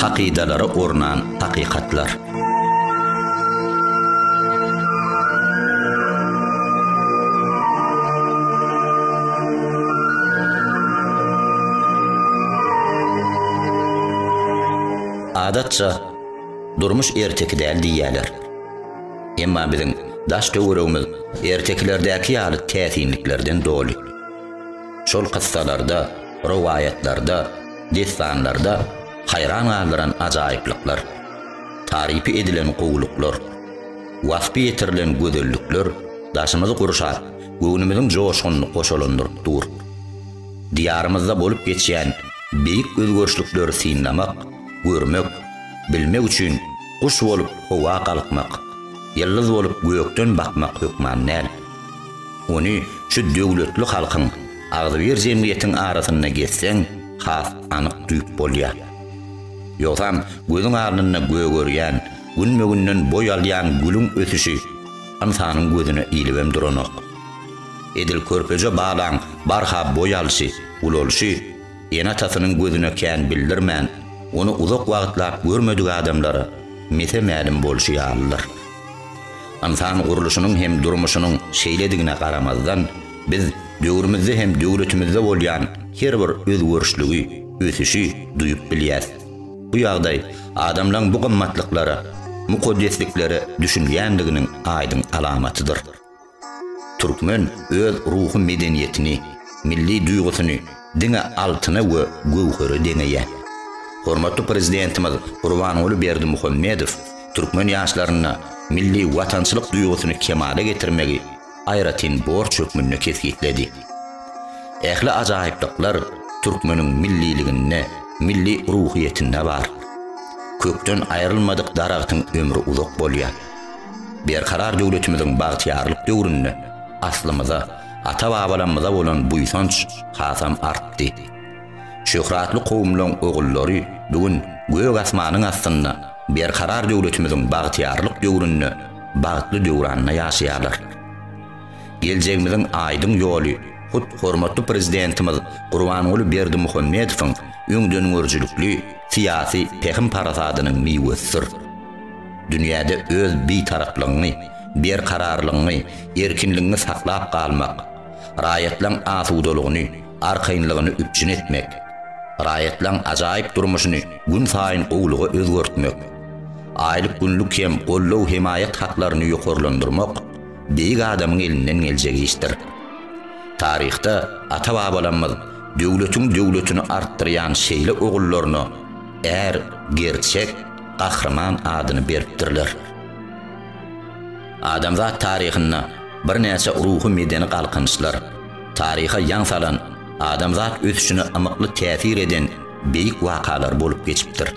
hakydalara ornan hakykatlar. Adatça Durmuş erteki däl diýýärler. Emma biziň daş-töweregimiz ertekilerdäki ýaly täsinliklerden doly. Şol kyssalarda, rowaýatlarda, dessanlarda haýran galdyran ajaýyplyklar, tarypy edilen gowulyklar, waspy ýetirilen gözellikler daşymyzy gurşap, göwnümiziň joşgunyny goşalandyryp dur. Diýarymyzda bolup geçýän beýik özgerişlikleri synlamak, görmek, bilmek üçin guş bolup howa galkmak, ýyldyz bolup gökden bakmak hökman däl. Ony şu döwletli halkyň, agzybir jemgyýetiň arasynda gezseň, has anyk duýup bolýar. Ýogsam, gözüň alnynda gögerýän, günbe-günden boý alýan gülüň ösüşi ynsanyň gözüne ilibem duranok. Edil körpeje balaň barha boý alşy, ulalyşy, Ene-atasynyň gözüne kän bildirmän, ony uzak wagtlap görmedik adamlara mese-mälim bolşy ýalydyr. Ynsan gurluşynyň hem durmuşynyň şeýledigine garamazdan, biz döwrümizde hem döwletimizde bolýan her bir özgerişligi, ösüşi duýup bilýäs. Bu ýagdaý adamlaryň bu gymmatlyklara, mukaddesliklere düşünýändiginiň aýdyň alamatydyr. Türkmen öz ruhy medeniýetini, milli duýgusyny diňe altyna we göwhere deňeýär. Hormatly Prezidentimiz Gurbanguly Berdimuhamedow türkmen ýaşlarynda milli watançylyk duýgusyny kemala getirmegi aýratyn borç hökmünde kesgitledi. Ähli ajaýyplyklar türkmeniň milliliginde, milli ruhyýetinde bar. Kökden aýrylmadyk daragtyň ömri uzak bolýar. Berkarar döwletimiziň bagtyýarlyk döwründe aslymyza, ata-babalamyza bolan buýsanç hasam artdy. Şöhratly kowumlaryň ogullary bu gün gök asmanyň astynda Berkarar döwletimiziň bagtyýarlyk döwründe bagtly döwranda ýaşaýarlar. Geljegimiziň aýdyň ýoly hut hormatly Prezidentimiz Gurbanguly Berdimuhamedowyň öňdengörüjilikli syýasy pähim-parasadynyň miwesidir. Dünýäde öz Bitaraplygyňy, berkararlygyňy, erkinligiňi saklap galmak, raýatlaň asudalygyny, arkaýynlygyny üpjün etmek, raýatlaň ajaýyp durmuşyny günsaýyn gowulyga özgertmek, aýlyk-günlük hem goldaw-hemaýat haklaryny ýokarlandyrmak beýik adamyň elinden geljek işdir. Taryhda ata-babalarymyz döwletiň döwletini artdyrýan şeýle ogullaryna är, gerçek, Gahryman adyny beripdirler. Adamzat taryhynda birnäçe ruhy-medeni galkynyşlar, taryha ýaň salan, adamzat ösüşine ymykly täsir eden beýik wakalar bolup geçipdir.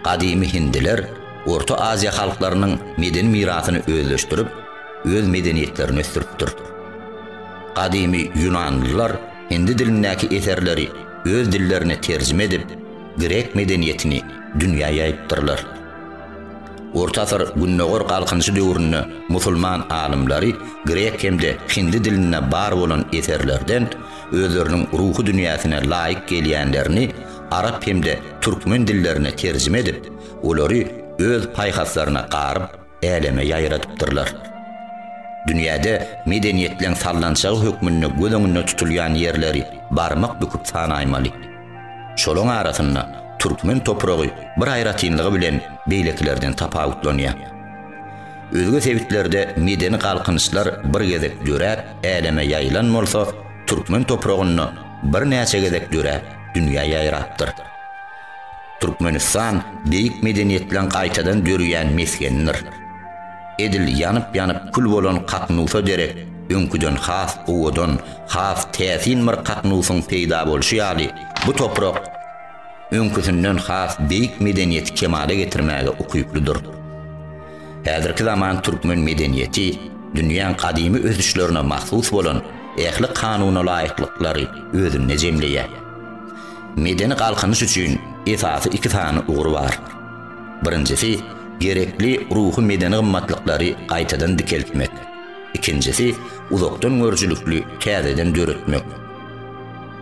Gadymy hindiler Orta Aziýa halklarynyň medeni mirasyny özleşdirip, öz medeniýetlerini ösdüripdir. Gadymy ýunanlylar hindi dilindäki eserleri öz dillerine terjime edip, grek medeniýetini dünýä ýaýypdyrlar. Orta asyr Gündogar Galkynyşy döwründe musulman alymlary grek hem-de hindi dilinde bar bolan eserlerden özleriniň ruhy dünýäsine laýyk gelýänlerini arap hem-de türkmen dillerine terjime edip, olary öz paýhaslaryna garyp, äleme ýaýradypdyrlar. Dünýäde medeniýetleň sallançagy hökmünde göz öňünde tutulýan ýerleri barmak büküp sanaýmaly. Şolaň arasynda türkmen topragy bir aýratynlygy bilen beýlekilerden tapawutlanýar. Özge sebitlerde medeni galkynyşlar bir gezek döräp, äleme ýaýylan bolsa, türkmen topragynda birnäçe gezek döräp, dünýä ýaýrapdyr. Türkmenistan beýik medeniýetleň gaýtadan döreýän mesgenidir. Edil ýanyp-ýanyp kül bolan Kaknusa derek öňküden has owadan, has täsin bir Kaknusyň peýda bolşy ýaly, bu toprak öňküsinden has beýik medeniýeti kemala getirmäge ukyplydyr. Häzirki zaman türkmen medeniýeti dünýäň gadymy ösüşlerine mahsus bolan ähli kanunalaýyklyklary özünde jemleýär. Medeni galkynyş üçin esasy iki sany ugur bar. Birinjisi, gerekli ruhy-medeni gymmatlyklary gaýtadan dikeltmek, ikinjisi, uzakdan görüjilikli täzeden döretmek.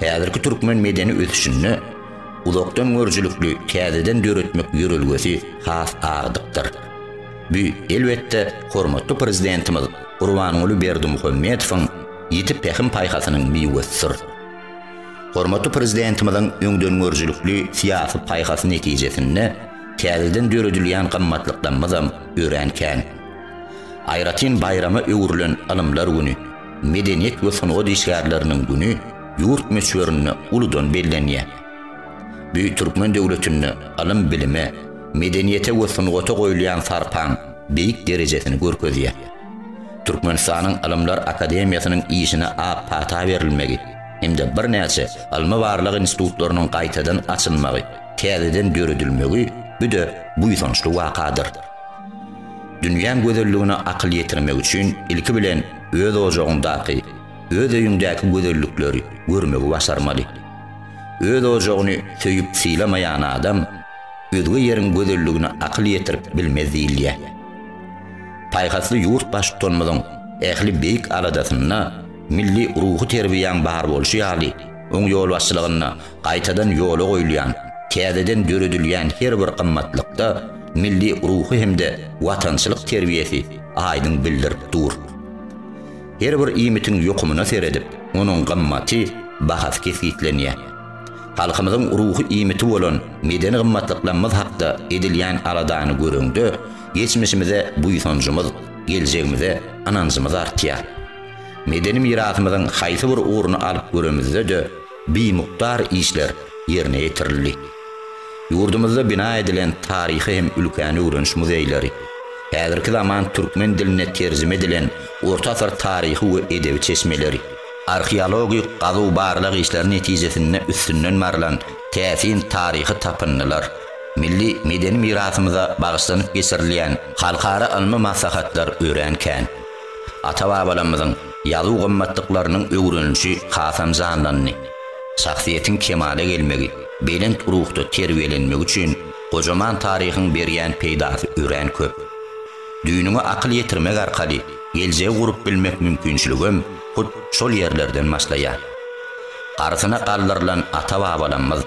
Häzirki türkmen medeni ösüşinde uzakdan görüjilikli täzeden döretmek ýörelgesi has agdykdyr. Bu, elbetde, hormatly Prezidentimiz Gurbanguly Berdimuhamedowyň ýiti pähim-paýhasynyň miwesidir. Hormatly Prezidentimiziň öňdengörüjilikli syýasy paýhasy netijesinde täzeden döredilýän gymmatlyklarymyzam örän kän. Aýratyn baýrama öwrülen Ylymlar güni, Medeniýet we sungat işgärleriniň güni ýurt möçberinde uludan bellenýär. Büýük türkmen döwletinde ylym-bilime, medeniýete we sungata goýulýan sarpaň beýik derejesini görkezýär. Türkmenistanyň Ylymlar akademiýasynyň işine ak pata berilmegi hem-de birnäçe ylmy-barlag institutlarynyň gaýtadan açylmagy, täzeden döredilmegi büde buýsançly wakadyr. Dünýäň gözelligine akyl ýetirmek üçin ilki bilen öz ojagyňdaky, öz öýüňdäki gözellikleri görmegi başarmaly. Öz ojagyny söýüp sylamaýan adam özge ýeriň gözelligine akyl ýetirip bilmez diýilýär. Paýhasly ýurt Baştutanymyzyň ähli beýik aladasynda milli ruhy terbiýäň bar bolşy ýaly, oň ýolbaşçylygynda gaýtadan ýola goýulýan, täzeden döredilýän her bir gymmatlykda milli ruhy hem-de watançylyk terbiýesi aýdyň bildirip dur. Her bir iýmitiň ýokumyna seredip, onuň gymmaty, bahasy kesgitlenýär. Halkymyzyň ruhy iýmiti bolan medeni gymmatlyklarymyz hakda edilýän aladany göreňde, geçmişimize buýsanjymyz, geljegimize ynanjymyz artýar. Medeni mirasymyzyň haýsy bir ugruny alyp göremizde-de bimukdar işler ýerine ýetirildi. Ýurdumyzda bina edilen taryhy hem ülkäni öwreniş muzeýleri, häzirki zaman türkmen diline terjime edilen orta asyr taryhy we edebi çeşmeleri, arheologik gazuw-barlag işleri netijesinde üstünden barylan täsin taryhy tapyndylar, Milli medeni mirasymyza bagyşlanyp geçirilýän halkara ylmy maslahatlar örän kän. Ata-babalarymyzyň ýazuw gymmatlyklarynyň öwrenilişi hasam janlandy. Şahsyýetiň kemala gelmegi, belent ruhda terbiýelenmegi üçin gojaman taryhyň berýän peýdasy örän köp. Düýnüňe akyl ýetirmek arkaly geljegi gurup bilmek mümkinçiligem hut şol ýerlerden başlaýar. Garysyna galdyrylan ata-babalarymyz.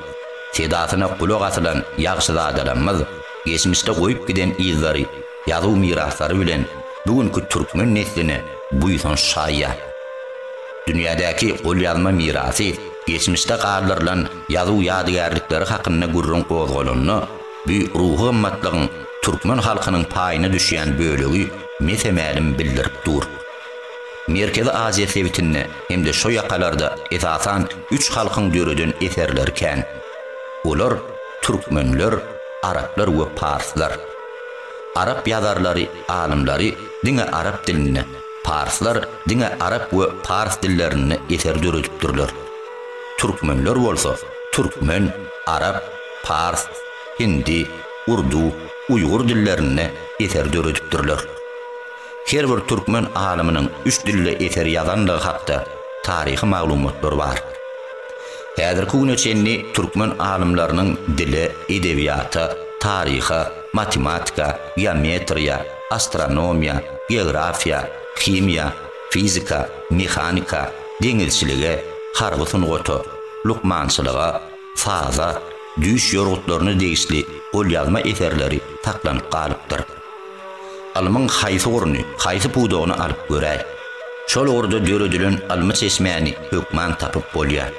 sedasyna gulak asylan ýagşyzadalarymyz geçmişde goýup giden yzlary, ýazuw miraslary bilen bu günki türkmen nesline buýsanç çaýýar. Dünýädäki golýazma mirasy, geçmişde galdyrylan ýazuw ýadygärlikleri hakynda gürrüň gozgalanda, bu ruhy gymmatlygyň türkmen halkynyň paýyna düşýän bölegi mese-mälim bildirip dur. Merkezi Aziýa sebitinde hem-de şo ýakalarda esasan üç halkyň döreden eserleri kän. Olar, türkmenler, araplar we parslar. Arap ýazarlary, alymlary diňe arap dilinde, parslar diňe arap we pars dillerinde eser döredipdirler. Türkmenler bolsa, türkmen, arap, pars, hindi, urdu, uýgur dillerinde eser döredipdirler. Her bir türkmen alymynyň üç dilde eser ýazandygy hakda taryhy maglumatlar bar. Häzirki güne çenli türkmen alymlarynyň dile, edebiýata, taryha, matematika, geometriýa, astronomiýa, geografiýa, himiýa, fizika, mehanika, deňizçilige, harby sungata, lukmançylyga, saza, düýş ýorgutlaryna degişli golýazma eserleri saklanyp galypdyr. Ylmyň haýsy ugruny, haýsy pudagyny alyp göräý, şol ugurda döredilen ylmy çeşmäni hökman tapyp bolýar.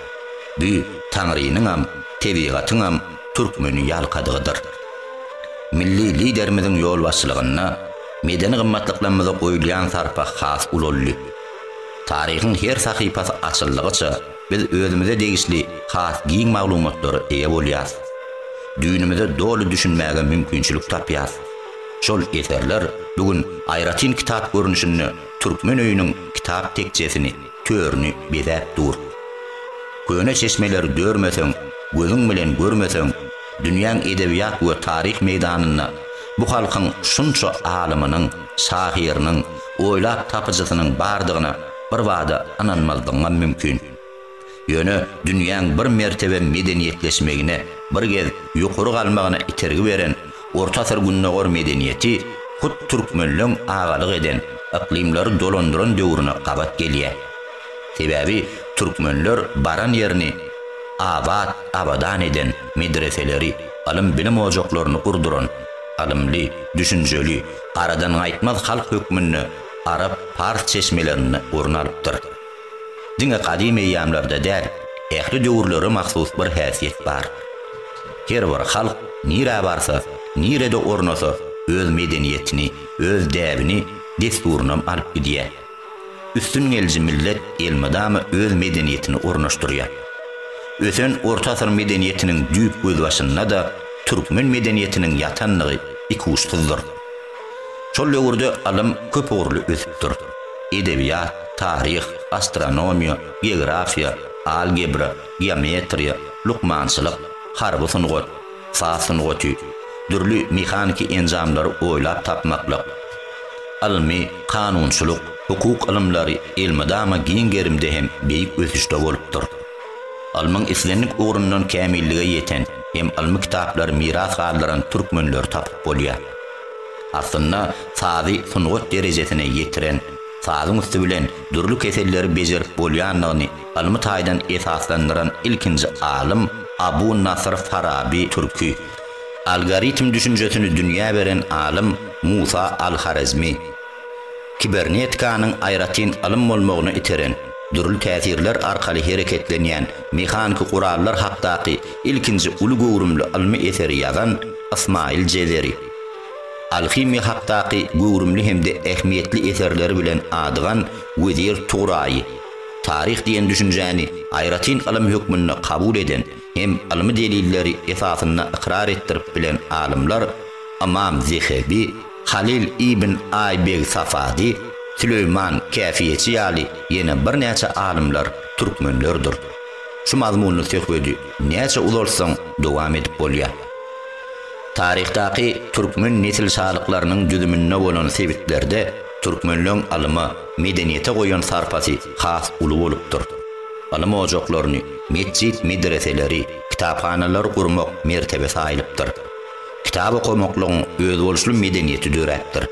Bu Taňrynyňam, tebigatyňam türkmeni ýalkadygydyr. Milli Liderimiziň ýolbaşçylygynda medeni gymmatlyklarymyza goýulýan sarpa has ulaldy. Taryhyň her sahypasy açyldygyça, Biz özümize degişli has giň maglumatlara eýe bolýarys. Düýnümize doly düşünmäge mümkinçilik tapýarys. Şol eserler bu gün aýratyn kitap görnüşinde Türkmen öýüniň kitap tekjesini, törüni bezäp dur. Köne çeşmeleri dörmeseň, gözüň bilen görmeseň, dünýäň edebiýat we taryh meýdanynda bu halkyň şunça alymynyň, şahyrynyň, oýlap tapyjysynyň bardygyna birbada ynanmazlygyňam mümkin. Ýöne dünýäň bir mertebem medeniýetleşmegine, bir gez ýokary galmagyna itergi beren Orta asyr Gündogar medeniýeti hut türkmenleň agalyk eden, yklymlary dolandyran döwrüne gabat gelýär. Sebäbi türkmenler baran ýerini abat, abadan eden, medreseleri, ylym-bilim ojaklaryny gurduran, ylymly, düşünjeli, aradan gaýtmaz halk hökmünde arap, pars çeşmelerinde orun alypdyr. Diňe gadym eýýamlarda däl, ähli döwürlere mahsus bir häsiýet bar. Her bir halk nirä barsa, nirede ornasa öz medeniýetini, öz däbini, dessurynam alyp gidýär. Üstüngeliji millet elmydama öz medeniýetini ornaşdyrýar. Ösen orta asyr medeniýetiniň düýp gözbaşynda-da türkmen medeniýetiniň ýatandygy ikuçsyzdyr. Şol döwürde ylym köp ugurly ösüpdir. Edebiýat, taryh, astronomiýa, geografiýa, algebra, geometriýa, lukmançylyk, harby sungat, saz sungaty, dürli mehaniki enjamlary oýlap tapmaklyk, ylmy, kanunçylyk, hukuk ylymlary elmydama giň gerimde hem beýik ösüşde bolupdyr. Ylmyň islendik ugrundan kämillige ýeten hem ylmy kitaplary miras galdyran türkmenleri tapyp bolýar. Aslynda sazy sungat derejesine ýetiren, sazyň üsti bilen dürli keselleri bejerip bolýandygyny ylmy taýdan esaslandyran ilkinji alym Abu Nasyr Faraby türki algoritm düşünjesini dünýä beren alym Musa al-Horezmi, Kibernetikanyň aýratyn ylym bolmagyna iteren, dürli täsirler arkaly hereketlenýän mehaniki gurallar hakdaky ilkinji uly göwrümli ylmy eseri ýazan Ysmaýyl Jezeri. Alhimiýa hakdaky göwrümli hem-de ähmiýetli eserleri bilen adygan Wezir Turaýy, taryh diýen düşünjäni aýratyn ylym hökmünde kabul eden hem ylmy delilleri esasynda ykrar etdirip bilen alymlar Ymam Zehebi, Halyl ibn Aýbeg Safady, Süleýman Käfiýeçi ýaly ýene birnäçe alymlar türkmenlerdir. Şu mazmunly söhbedi näçe uzaltsaň dowam edip bolýar. Taryhdaky türkmen nesil şalyklarynyň düzüminde bolan sebitlerde türkmenleň ylyma, medeniýete goýan sarpasy has uly bolupdyr. Ylym ojaklaryny, metjit-medreseleri, kitaphanalary gurmak mertebesi aýylypdyr. Kitap okamaklygyň özboluşly medeniýeti döräpdir.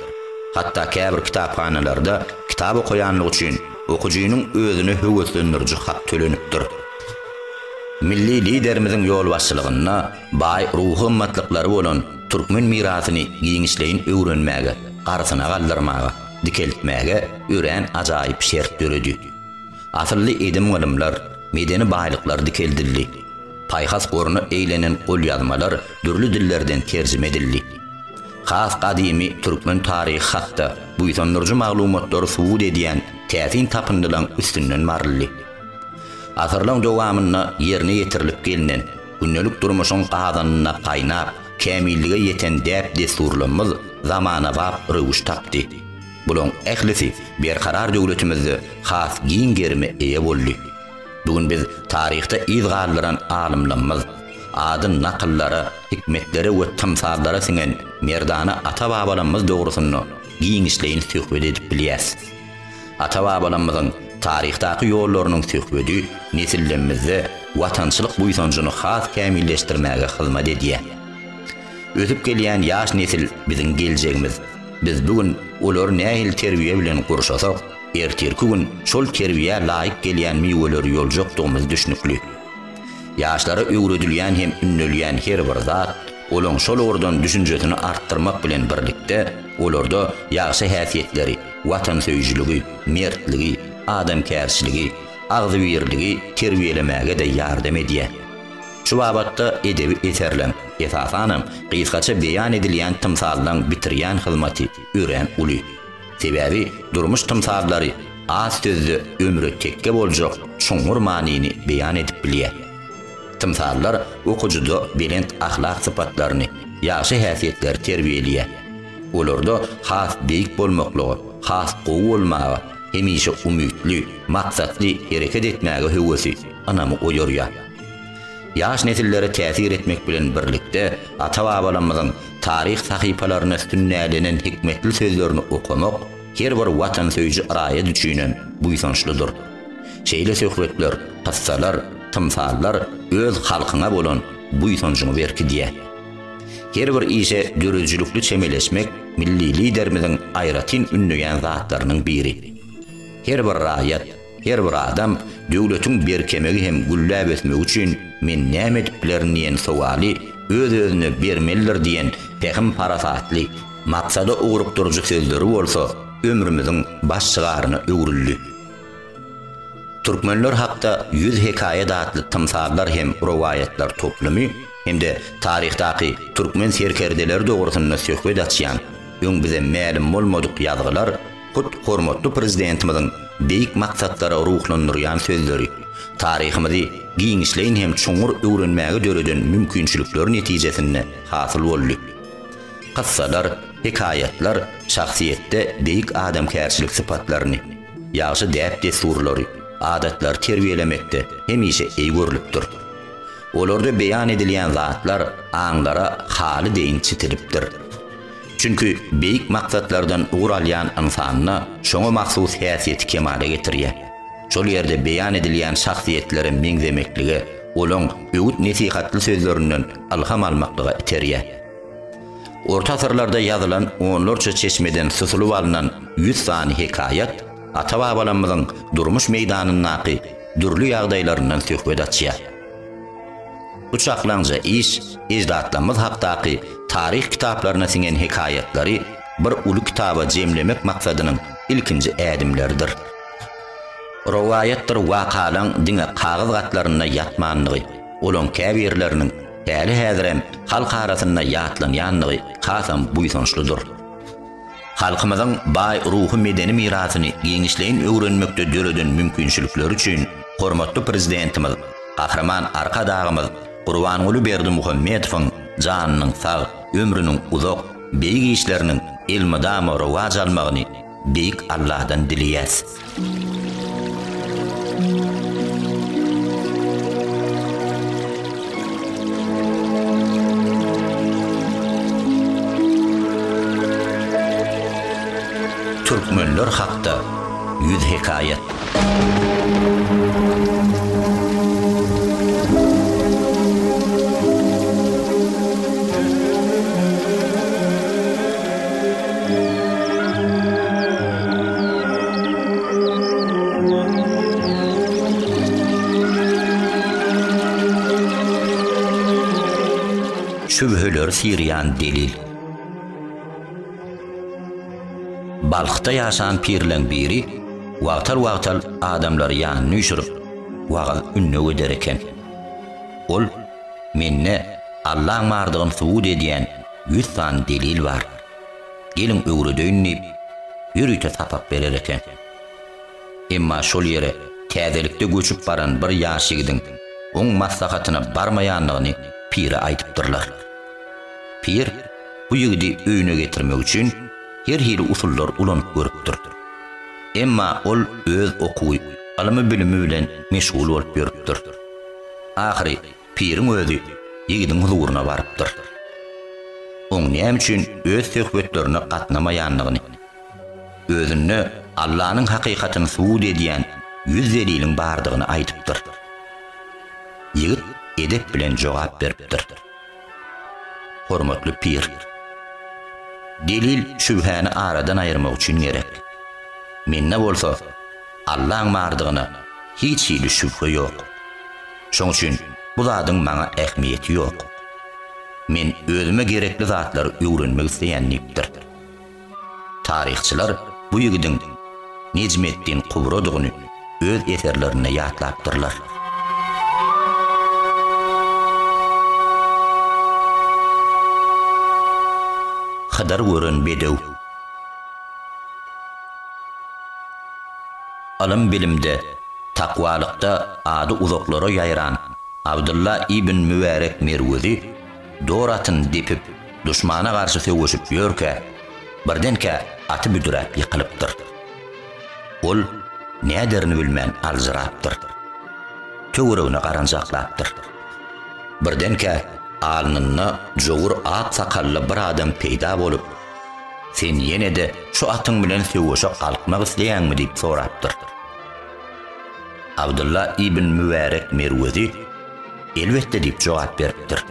Hatda käbir kitaphanalarda kitap okaýanlygy üçin okyjynyň özüne höweslendiriji hak tölenipdir. Milli Liderimiziň ýolbaşçylygynda baý ruhy gymmatlyklary bolan türkmen mirasyny giňişleýin öwrenmäge, arsyna galdyrmaga, dikeltmäge örän ajaýyp şert döredi. Asylly edim-gylymlar, medeni baýlyklar dikeldildi. Paýhas goruna eýlenen golýazmalar dürli dillerden terjime edildi. Has gadymy türkmen taryhy hakda buýsandyryjy maglumatlary subut edýän täsin tapyndylaryň üstünden baryldy. Asyrlaryň dowamynda ýerine ýetirilip gelnen, gündelik durmuşyň gazanyna gaýnap, kämillige ýeten däp-dessurlarymyz zamanabap röwüş tapdy. Bularyň ählisi berkarar döwletimizde has giň gerime eýe boldy. Bu gün biz taryhda yz galdyran alymlarymyz, ady nakyllara, hikmetlere we tymsallara siňen merdana ata-babalarymyz dogrusynda giňişleýin söhbet edip bilýäs. Ata-babalarymyzyň taryhdaky ýollarynyň söhbedi nesillerimizde watançylyk buýsanjyny has kämilleşdirmäge hyzmat edýär. Ösüp gelýän ýaş nesil biziň geljegimiz. Biz bu gün olary nähili terbiýe bilen gurşasak, Ertirki gün şol terbiýä laýyk gelýän miweleri ýoljakdygymyz düşnükli. Ýaşlara öwredilýän hem ündelýän her bir zat, olaň şol ugurdan düşünjesini artdyrmak bilen birlikde, olarda ýagşy häsiýetleri, watansöýüjiligi, mertligi, adamkärçiligi, agzybirligi terbiýelemäge-de ýardam edýär. Şu babatda edebi eserleň, esasanam, gysgaça beýan edilýän tymsallaň bitirýän hyzmaty örän uly. Sebäbi durmuş tymsallary az sözde ömre tekge boljak çuňňur manyny beýan edip bilýär. Tymsallar okyjyda belent ahlak sypatlaryny, ýagşy häsiýetleri terbiýeleýär. Olarda has beýik bolmaklyga, has gowy bolmaga, hemişe umytly, maksatly hereket etmäge höwesi, ynamy oýarýar. Ýaş nesillere täsir etmek bilen birlikde, ata-babalarymyzyň taryh sahypalaryna sünnälenen hikmetli sözlerini okamak her bir watansöýüji raýat üçinem buýsançlydyr. Şeýle söhbetler, kyssalar, tymsallar öz halkyňa bolan buýsanjyňy berkidýär. Her bir işe döredijilikli çemeleşmek milli Liderimiziň aýratyn ündeýän zatlarynyň biri. Her bir raýat, Her bir adam döwletiň berkemegi hem gülläp ösmegi üçin men näme edip bilerin diýen sowaly öz-özüne bermelidir diýen pähim-parasatly, maksada ugrukdyryjy sözleri bolsa ömrümiziň baş şygaryna öwrüldi. Türkmenler hakda ýüz hekaýat atly tymsallar hem rowaýatlar toplumy hem-de taryhdaky türkmen serkerdeleri dogrusynda söhbet açýan öň bize mälim bolmadyk ýazgylar, Hut hormatly Prezidentimiziň beýik maksatlara ruhlandyrýan sözleri, taryhymyzy giňişleýin hem çuňňur öwrenmäge döreden mümkinçilikleri netijesinde hasyl boldy. Kyssalar, hekaýatlar şahsyýetde beýik adamkärçilik sypatlaryny, ýagşy däp-dessurlary, adatlary terbiýelemekde hemişe eý görlüpdir. Olarda beýan edilýän zatlar aňlara haly deýin çitilipdir. Çünki beýik maksatlardan ugur alýan ynsanda şoňa mahsus häsiýeti kemala getirýär. Şol ýerde beýan edilýän şahsyýetlere meňzemeklige, olaň öwüt-nesihatly sözlerinden ylham almaklyga iterýär. Orta asyrlarda ýazylan onlarça çeşmeden susulyp alnan ýüz sany hekaýat ata-babalarymyzyň durmuş meýdanyndaky dürli ýagdaýlaryndan söhbet açýar. Bu çaklaňja iş eždatlarymyz hakdaky taryh kitaplaryna siňen hekaýatlary bir uly kitaba jemlemek maksadynyň ilkinji ädimleridir. Rowaýatdyr wakalaň diňe kagyz gatlarynda ýatmandygy, olaň käbirleriniň häli-häzirem halk arasynda ýatlanýandygy hasam buýsançlydyr. Halkymyzyň baý ruhy-medeni mirasyny giňişleýin öwrenmekde döreden mümkinçilikleri üçin hormatly Prezidentimiz Gahryman Arkadagymyz Gurbanguly Berdimuhamedowyň janynyň sag, ömrüniň uzak, beýik işleriniň elmydama rowaç almagyny Beýik Alladan dileýäs. Türkmenler hakda ýüz hekaýat. Şübheleri syrýan delil. Balhda ýaşan pirleň biri wagtal-wagtal adamlary ýanyna üýşürip, wagyz ündew eder eken. Ol, Mende Allaň bardygyny subut edýän ýüz sany delil bar. Geliň öwredeýin diýip, ýörite sapak berer eken. Emma şol ýere täzelikde göçüp baran bir ýaş ýigidiň oň maslahatyna barmaýanlygyny pire aýdypdyrlar. Pir bu ýigidi öýüne getirmek üçin her hili usullar ulanyp görüpdir. Emma ol öz okuwy, ylymy-bilimi bilen meşgul bolup ýörüpdir. Ahyry Piriň özi ýigidiň huzuryna barypdyr. Oň näme üçin öz söhbetlerine gatnamaýandygyny, özünde Allanyň hakykatyny subut edýän ýüz deliliň bardygyny aýdypdyr. Ýigit edep bilen jogap beripdir. Hormatly pir! Delil şübhäni aradan aýyrmak üçin gerek. Mende bolsa Allaň bardygyna hiç hili şübhe ýok. Şoň üçin bu zadyň maňa ähmiýeti ýok. Men özüme gerekli zatlary öwrenmek isleýän diýipdir. Taryhçylar bu ýigidiň Nejmeddin Kubrodygyny öz eserlerinde ýatlapdyrlar. Hydyr gören bedew. Ylym-bilimde, takwalykda ady uzaklara ýaýran Abdylla ibn Mübärek Merwezi dor atyn depip, duşmana garşy söweşip ýörkä, birdenkä aty büdräp ýykylypdyr. Ol näderini bilmän aljyrapdyr. Töweregine garanjaklapdyr. Birdenkä alnynda jowur ak sakally bir adam peýda bolup, Sen ýene-de şu atyň bilen söweşe galkmak isleýäňmi? diýip sorapdyr. Abdylla ibn Mübärek Merwezi, Elbetde diýip jogap beripdir.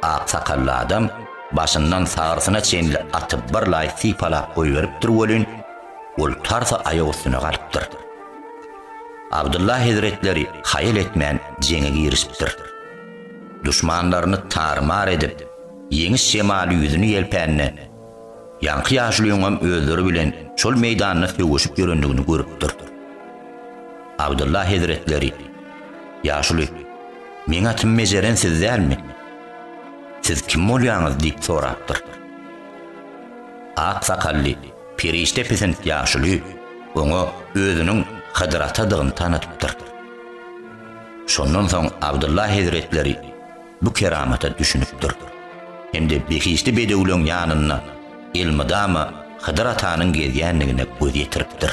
Ak sakally adam başyndan sagyrsyna çenli aty birlaý sypalap goýberipdir welin, ol tarsa aýak üstüne galypdyr. Abdylla hezretleri haýal etmän jeňe girişipdir. Duşmanlaryny tar-mar edip, Ýeňiş şemaly ýüzüni ýelpände, ýaňky ýaşulyňam özleri bilen şol meýdanda sögüşip ýörendigini görüpdir. Abdylla hezretleri, Ýaşuly, meň atym Mejeren siz dälmi? Siz kim bolýaňyz? diýip sorapdyr. Ak sakally, perişde pisint ýaşuly oňa özüniň Hydyr atadygyny tanadypdyr. Şondan soň Abdylla hezretleri, bu keramata düşünipdir hem-de behişdi bedewleň ýanynda elmydama Hydyr atanyň gezýändigine göz ýetiripdir.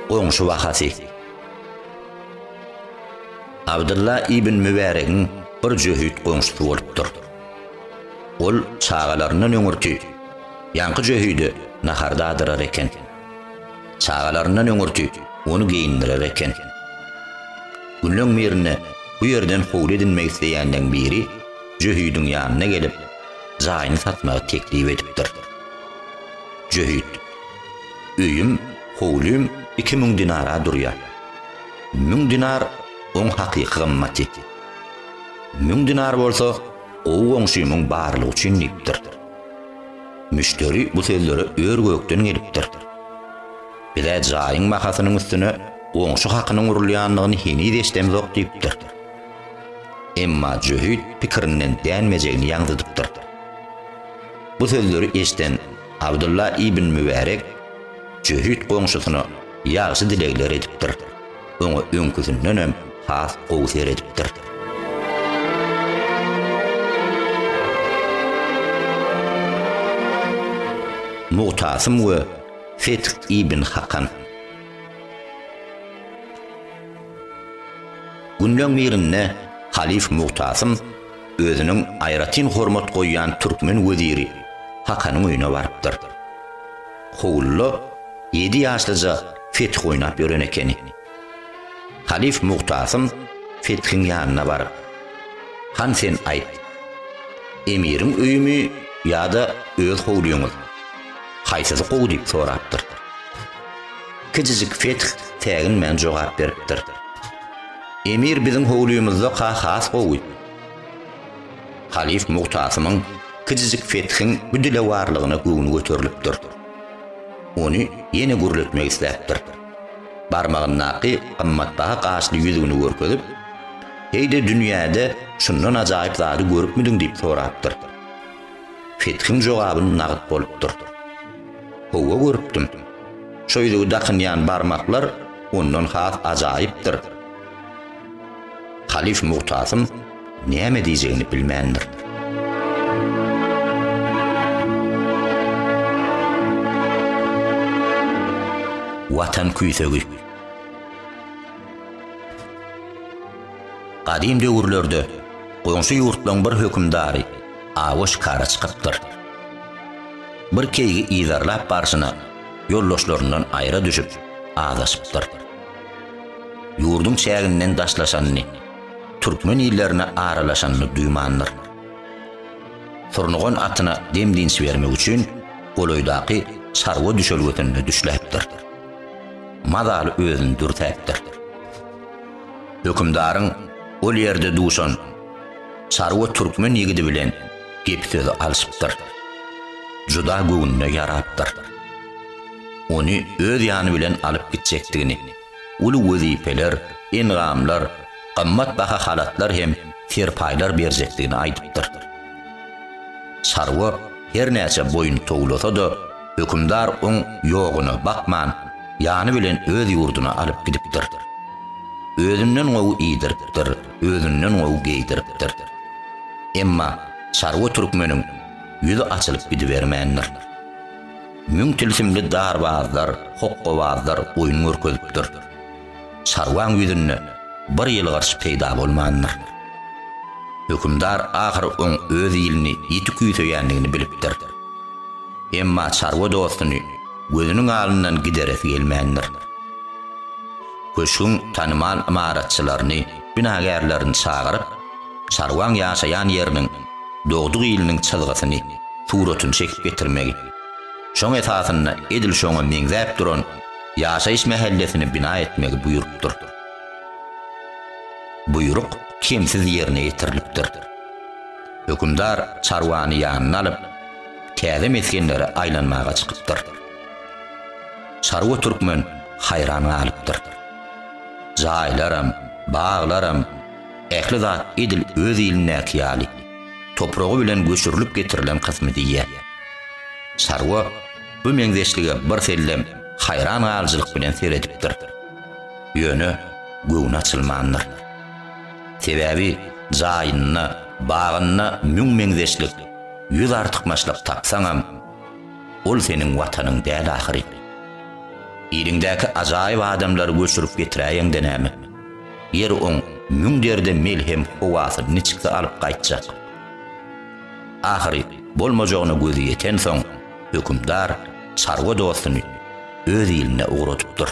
Goňşy wakasy. Abdylla ibn Mübäregiň bir jöhit goňşusy bolupdyr. Ol çagalaryndan öňürti ýaňky jöhide nahar dadyrar eken. Çagalaryndan öňürti ony geýindirer eken. Günleň birinde bu ýerden howly edinmek isleýänleň biri Jöhüdiň ýanyna gelip, jaýyny satmagy teklip edipdir. Jöhüt, Öýüm, howlym iki müň dinara durýar. Müň dinar oň hakyky gymmaty. Müň dinar bolsa gowy goňşymyň barlygy üçin diýipdir. Müşderi bu sözlere ör-gökden gelipdir. Bize jaýyň bahasynyň üstüne goňşy hakynyň urulýandygyny heniz eşidemzok diýipdir. Emma jöhit pikirinden dänmejegini ýaňzydypdyr. Bu sözleri eşiden Abdylla ibn Mübärek jöhit goňşusyna ýagşy dilegler edipdir. oňa öňküsinden hem has gowy seredipdir. Mugtasym we Feth ibn Hakan. Günleň birinde halyf Mugtasym özüniň aýratyn hormat goýýan türkmen weziri Hakanyň öýüne barypdyr. Howlula ýedi ýaşlyja fetih oýnap ýören ekeni. Halyf Muhtasym fetihiň ýanyna baryp, Han sen aýt, emiriň öýümi ýa-da öz howlyňyz, haýsysy gowy diýip sorapdyr. Kijijik fetih säginmän jogap beripdir. Emir biziň howlymyzda-ka has gowy. Halyf Mugtasymyň kijijik Fethiň bu dilewarlygyna göwni göterilipdir. Ony ýene gürletmek isläpdir. Barmagyndaky gymmatbaha gaşly ýüzügini görkezip, Heý-de dünýäde şundan ajaýyp zady görüpmidiň diýip sorapdyr. Fethiň jogaby nagt bolupdyr. Howwa görüpdim. Şo ýüzügi dakynýan barmaklar ondan has ajaýypdyr. Halyf Mugtasym näme diýjegini bilmändir. Watan küýsegi. Gadym döwürlerde goňşy ýurtlaryň bir hökümdary awa şikara çykypdyr. Bir keýgi yzarlap barşyna ýoldaşlaryndan aýra düşüp, azaşypdyr. Ýurduň çäginden daşlaşanyny, türkmen illerine aralaşanyny duýmandyr. Surnugan atyna dem-dynç bermek üçin golaýdaky çarwa düşelgesinde düşläpdir. Mazaly özüni dürsäpdir. Hökümdaryň ol ýerde duşan çarwa türkmen ýigidi bilen gep-sözi alşypdyr. Juda göwnüne ýarapdyr. ony öz ýany bilen alyp gitjekdigini, uly wezipeler, engamlar, gymmat baha halatlar hem serpaýlar berjekdigini aýdypdyr. Çarwa her näçe boýun towlasa-da, hökümdar oň ýogyna bakman, ýany bilen öz ýurduna alyp gidipdir. Özünden gowy iýdiripdir, özünden gowy geýdiripdir. Emma çarwa türkmeniň ýüzi açylyp gidibermändir. Müň tilsimli darbazlar, hokkabazlar oýun görkezipdir. Çarwaň ýüzünde bir ýylgyryş peýda bolmandyr. Hökümdar ahyry oň öz ilini ýiti küýseýändigini bilipdir. Emma çarwa dostuny gözüniň alyndan gideresi gelmändir. Köşgüň tanymal ymaratçylaryny, binagärlerini çagyryp, çarwaň ýaşaýan ýeriniň, dogduk iliniň çyzgysyny, suratyny çekip getirmegi. Şoň esasynda edil şoňa meňzäp duran ýaşaýyş mähellesini bina etmegi buýrupdyr. Buýruk kemsiz ýerine ýetirilipdir. Hökümdar çarwany ýanyna alyp, täze mesgenlere aýlanmaga çykypdyr. Çarwa türkmen haýran galypdyr. Jaýlaram, baglaram, Ähli zat edil öz ilindäki ýaly, topragy bilen göçürilip getirilen kysmy diýýär. Çarwa bu meňzeşlige birsellem haýran galyjylyk bilen seredipdir. Ýöne göwni açylmandyr. Sebäbi jaýynda, bagynda müň meňzeşlik, ýüz artykmaçlyk tapsaňam, ol seniň watanyň däl ahyry. Iliňdäki ajaýyp adamlary göçürip getiräýeňde näme? Ýer oň müň derde melhem howasy niçiksi alyp gaýtjak? Ahyry bolmajagyna gözi ýetensoň, hökümdar çarwa dostuny öz iline ugradypdyr.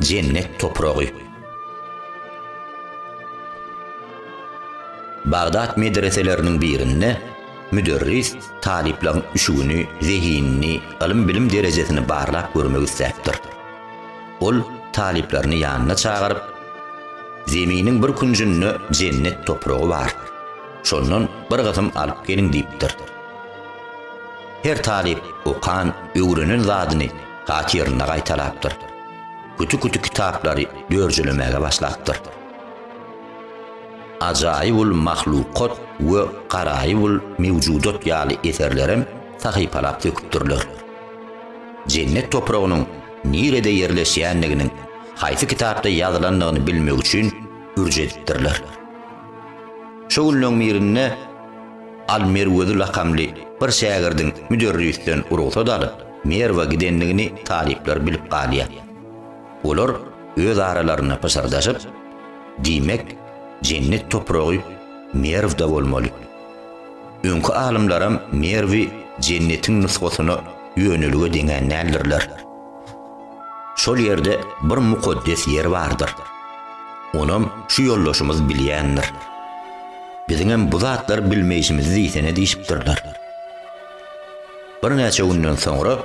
Jennet topragy. Bagdat medreseleriniň birinde müderris talyplaryň üşügini, zehinini, ylym-bilim derejesini barlap görmek isläpdir. Ol talyplaryny ýanyna çagyryp, Zeminiň bir künjünde jennet topragy bar. Şondan bir gysym alyp geliň diýipdir. Her talyp okan, öwrenen zadyny hatyryna gaýtalapdyr. küti-küti kitaplary dörjelemäge başlapdyr. Ajaýybul mahlukat we Garaýybul mewjudat ýaly eserlerem sahypalap döküpdirler. Jennet topragynyň nirede ýerleşýändiginiň, haýsy kitapda ýazylandygyny bilmek üçin ürç edipdirler. Şo günleň birinde Al-Merwezi lakamly bir şägirdiň müderrisden rugsat alyp, Merwa gidendigini talyplar bilip galýar. Olar öz aralarynda pyşyrdaşyp, Diýmek, jennet topragy Merwde bolmaly. Öňki alymlaram Merwi jennetiň nusgasyna ýönelige deňän däldirler. Şol ýerde bir mukaddes ýer bardyr. Onam şu ýoldaşymyz bilýändir. Biziňem bu zatlary bilmeýşimizi diýsene diýşipdirler. Birnäçe günden soňra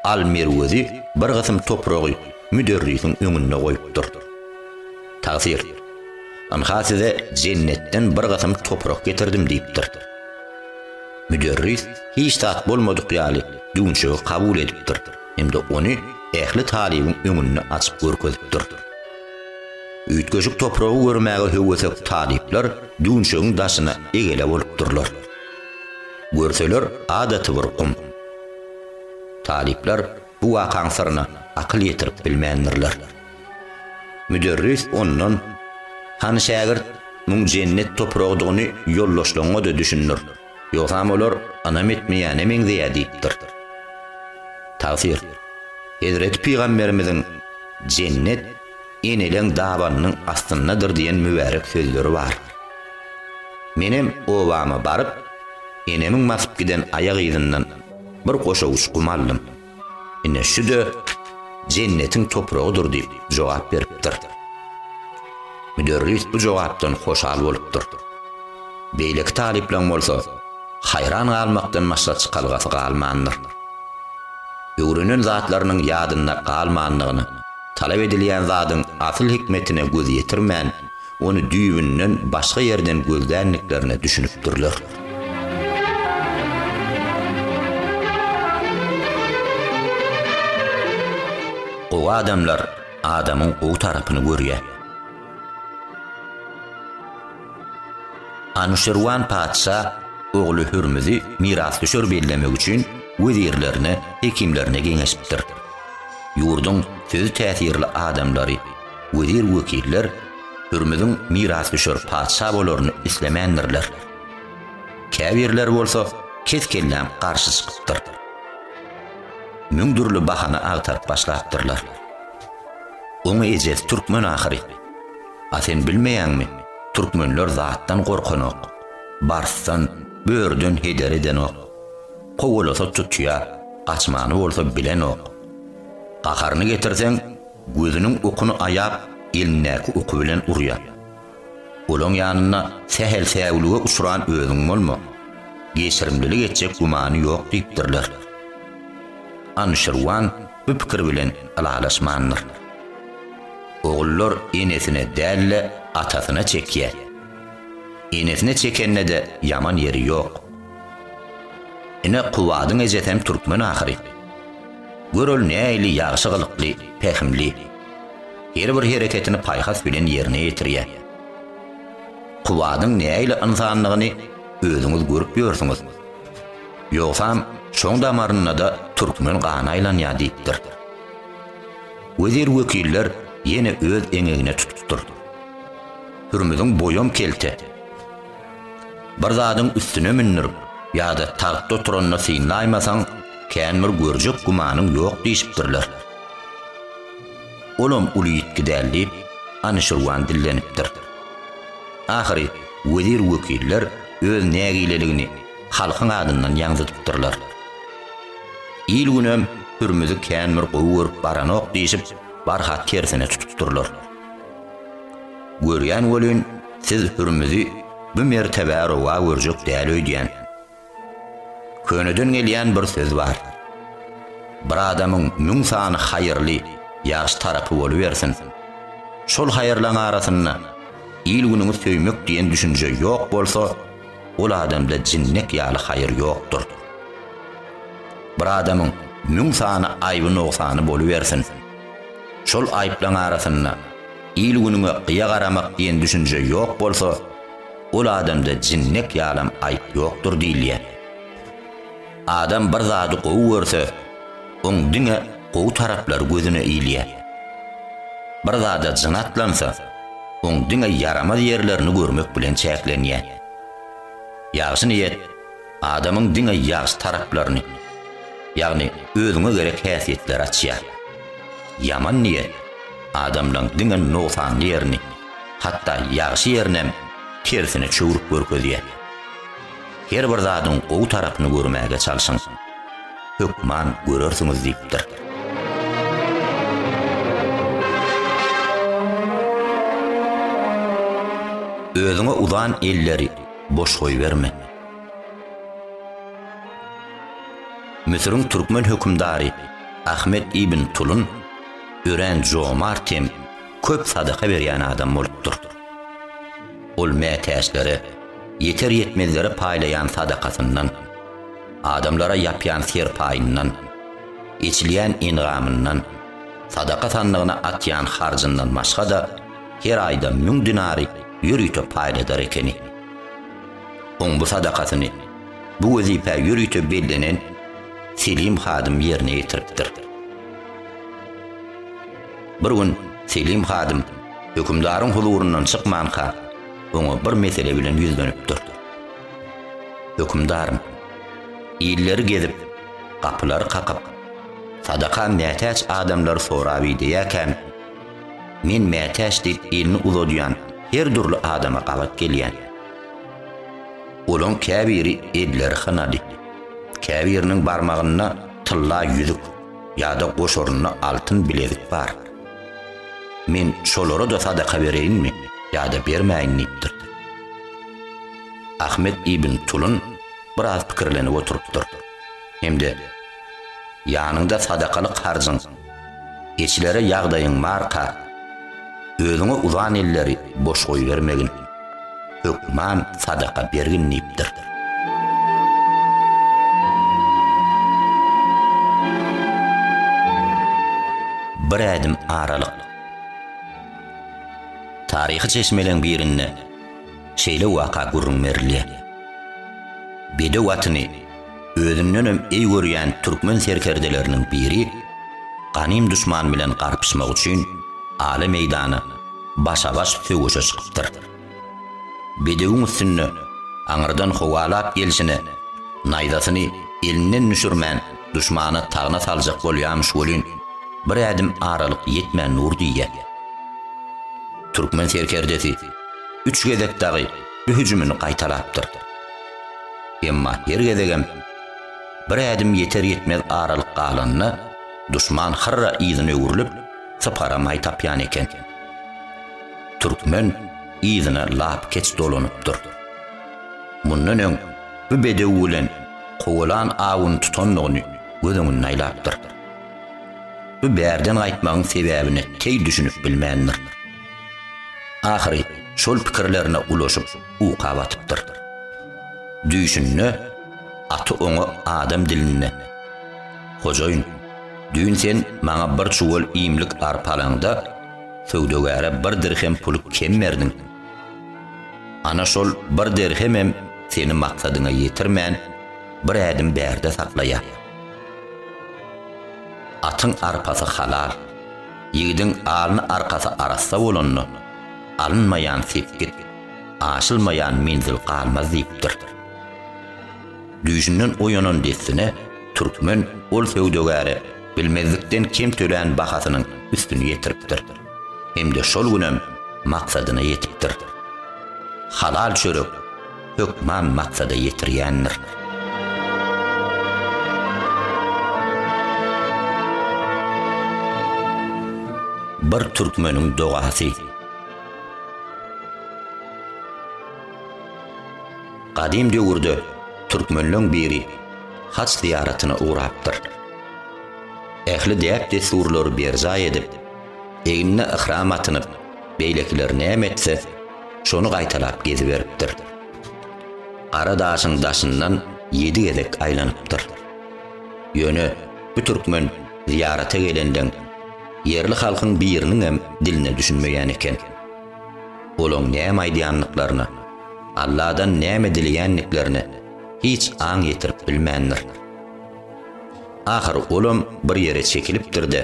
Al merwezi bir gysym topragy müderrisiň öňünde goýupdyr. Tagsyr, Ynha size jennetden bir gysym toprak getirdim diýipdir. Müderris hiç zat bolmadyk ýaly düwünçegi kabul edipdir hem-de ony ähli talybyň öňünde açyp görkezipdir. Üýtgeşik topragy görmäge höwesek talyplar düwünçegiň daşyna egele bolupdyrlar. Görseler adaty bir gum. Talyplar bu wakaň syryna akyl ýetirip bilmändirler. Müderris ondan, Hany şägirt, muň jennet topragydygyny ýoldaşlaryňa-da düşündir, ýogsam olar ynam etmeýäne meňzeýär diýipdir. Tagsyr, Hezreti pygamberimiziň jennet, Eneleň dabanynyň astyndadyr diýen mübärek sözleri bar. Menem obama baryp, enemiň basyp giden aýak yzyndan bir goşa uçgum aldym. Ine şu-da Jennetiň topragydyr diýip jogap beripdir. Müderris bu jogapdan hoşal bolupdyr. Beýleki talyplaň bolsa haýran galmakdan başga çykalgasy galmandyr. Öwrenen zatlarynyň ýadynda galmandygyny, Talap edilýän zadyň asyl hikmetine göz ýetirmän, ony düýbünden başga ýerden gözländiklerine düşünipdirler. Gowy adamlar adamyň gowy tarapyny görýär. Anuşirwan patyşa ogly Hürmüzi mirasdüşer bellemek üçin wezirlerine, hekimlerine geňeşipdir. Ýurduň sözi täsirli adamlary, wezir-wekiller Hürmüziň mirasdüşer patyşa bolaryny islemändirler. Käbirleri bolsa kes-kelläm garşy çykypdyr. Müň dürli bahana agtaryp başlapdyrlar. Oň ejesi türkmen ahyry. A sen bilmeýäňmi, türkmenler zatdan gorkanok, barsdan, börüden heder edenok. Kowalasa tutýar, gaçmany bolsa bilenok. Gaharyny getirseň, gözüniň okuny aýap, elindäki oky bilen urýar. Olaň ýanynda sähel säwlige uçran özüň bolma, geçirimlilik etjek gümany ýok diýipdirler. Anuşirwan bu pikir bilen ylalaşmandyr. Ogullar enesine däl-de, atasyna çekýär. Enesine çekende-de ýaman ýeri ýok. Ine Kubadyň ejesem türkmen ahyry. Gör ol nähili ýagşy gylykly, pähimli. Her bir hereketini paýhas bilen ýerine ýetirýä. Kubadyň nähili ynsanlygyny özüňiz görüp ýörsüňiz. Ýogsam şoň damaryndada türkmen gany aýlanýa diýipdir. Wezir wekiller ýene öz eňegine tutupdyr. Hürmüziň boýam kelte. Bir zadyň üstüne mündürip, ýa-da tagtda oturanda synlaýmasaň, kän bir görjek gümanyň ýok diýşipdirler. Olam uly ýitgi däl, diýip, Anuşirwan dillenipdir. Ahyry wezir-wekiller öz nägileligini halkyň adyndan ýaňzydypdyrlar. Il-günem Hürmüzi kän bir gowy görüp baranok diýşip, barha tersine tutupdyrlar. Görýän welin, siz Hürmüzi bu mertebä rowa görjek däl öýdýän. Köneden gelýän bir söz bar. Bir adamyň müň sany haýyrly, ýagşy tarapy bolubersin. Şol haýyrlaň arasynda il-günüňi söýmek diýen düşünje ýok bolsa, ol adamda jinnek ýaly haýyr ýokdur. Bir adamyň müň sany aýby-nogsany bolubersin. Şol aýyplaryň arasynda il-günüňe gyýa garamak diýen düşünje ýok bolsa, ol adamda jinnek ýalam aýyp ýokdur diýilýär. Adam bir zady gowy görse, oň diňe gowy taraplary gözüne ilýär. Bir zada jyn atlansa, oň diňe ýaramaz ýerlerini görmek bilen çäklenýär. Ýagşy niýet. adamyň diňe ýagşy taraplaryny, ýagny özüňe gerek häsiýetleri açýar. Ýaman niýet adamlaň diňe nogsanly ýerini, hatda ýagşy ýerinäm tersine çöwrüp görkezýär. Her bir zadyň gowy tarapyny görmäge çalşyň. Hökman görersiňiz diýipdir. Özüňe uzan elleri boş goýberme. Müsüriň türkmen hökümdary Ahmet ibn Tulun örän jomart hem köp sadaka berýän adam bolupdyr. Ol mätäçlere, ýeter-ýetmezlere paýlaýan sadakasyndan, adamlara ýapýan serpaýyndan, eçilýän engamyndan, sadaka sandygyna atýan harjyndan başga-da, her aýda müň dinary ýörite paýladar ekeni. Oň bu sadakasyny bu wezipä ýörite bellenen Selim hadym ýerine ýetiripdir. Bir gün Selim hadym hökümdaryň huzuryndan çykmanka, oňa bir mesele bilen ýüzlenipdir. Hökümdarym, illeri gezip, gapylary kakyp, sadaka mätäç adamlary sorap ideýäkäm, Men mätäç diýip elini uzadýan her dürli adama gabat gelýän. Olaň käbiri elleri hynady. Käbiriniň barmagynda tylla ýüzük ýa-da goşarynda altyn bilezik bar. Men şolara-da sadaka bereýinmi ýa-da bermäýin diýipdir. Ahmet ibn Tulun biraz pikirlenip oturypdyr hem-de Ýanyňda sadakalyk harjyň Eçilere ýagdaýyň barka, özüňe uzan elleri boş goýbermegin, hökman sadaka bergin diýipdir. Bir ädim aralyk. Taryhy çeşmeleň birinde şeýle waka gürrüň berilýär. Bedew atyny Özündenem eý görýän türkmen serkerdeleriniň biri ganym duşman bilen garpyşmak üçin ala meýdana başa-baş söweşe çykypdyr. Bedewiň üstünde aňyrdan howalap gelşine naýzasyny elinden düşürmän duşmana tagna saljak bolýamyş welin, bir ädim aralyk ýetmän dur diýýä. Türkmen serkerdesi üç gezek dagy bu hüjümini gaýtalapdyr. Emma her gezegem bir ädim ýeter-ýetmez aralyk galanda, duşman hyrra yzyna öwrülip, syparamaý tapýan eken. Türkmen yzyna lap-keç dolanypdyr. Mundan öň bu bedew bilen kowalan awuny tutandygyny göz öňünde aýlapdyr. Bu bärden gaýtmagyň sebäbine teý düşünip bilmändir. Ahyry şol pikirlerine ulaşyp, uka batypdyr. Düýşünde aty oňa adam dilinde, Hojaýyn, düýn sen maňa bir çuwal iýmlik arpa alaňda, söwdagäre bir dirhem puly kem berdiň. Ana şol bir dirhemem seni maksadyňa ýetirmän, bir ädim bärde saklaýar. Atyň arpasy halal, ýigidiň alny-arkasy arassa bolanda, alynmaýan sepgit. Aşylmaýan menzil galmaz diýipdir. Düýşünden oýanan dessine türkmen ol söwdagäre bilmezlikden kem tölän bahasynyň üstüni ýetiripdir. Hem-de şol günem maksadyna ýetipdir. Halal çörek hökman maksada ýetirýändir. Bir türkmeniň dogasy. Gadym döwürde türkmenleň biri haç zyýaratyna ugrapdyr. Ähli däp-dessurlary berjaý edip, egnine yhram atynyp, beýlekiler näme etse, şony gaýtalap geziberipdir. Gara daşyň daşyndan ýedi gezek aýlanypdyr. Ýöne bu türkmen zyýarata gelenden Ýerli halkyň biriniňem diline düşünmeýän eken. Olaň näme aýdýandyklaryna, Alladan näme dileýändiklerine hiç aň ýetirip bilmändir. Ahyry olam bir ýere çekilipdir-de,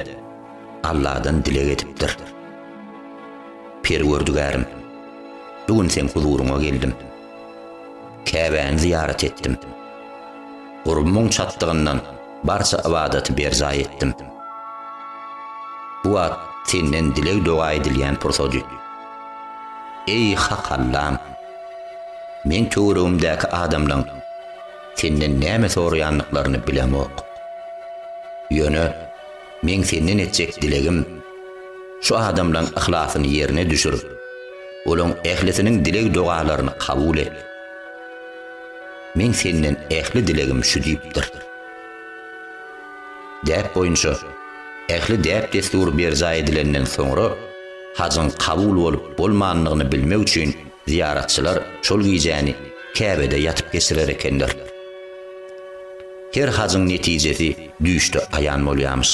Alladan dileg edipdir. Perwerdigärim, bu gün seň huzuryňa geldim. Käbäni zyýarat etdim. Gurbumyň çatdygyndan barça ybadaty berjaý etdim. Bu wagt Senden dileg-doga edilýän pursady. Eý, Hak Allam! Men töweregimdäki adamlaryň Senden näme soraýandyklaryny bilemok. Ýöne. Meň senden etjek dilegim, şu adamlaň yhlasyny ýerine düşür, olaň ählisiniň dileg-dogalaryny kabul et. Meň senden ähli dilegim şu diýipdir. Däp boýunça, ähli däp-dessur berjaý edilenden soňra, hajyň kabul bolup-bolmandygyny bilmek üçin zyýaratçylar şol gijäni Käbede ýatyp geçirer ekenler. Her hajyň netijesi düýşde aýan bolýarmyş.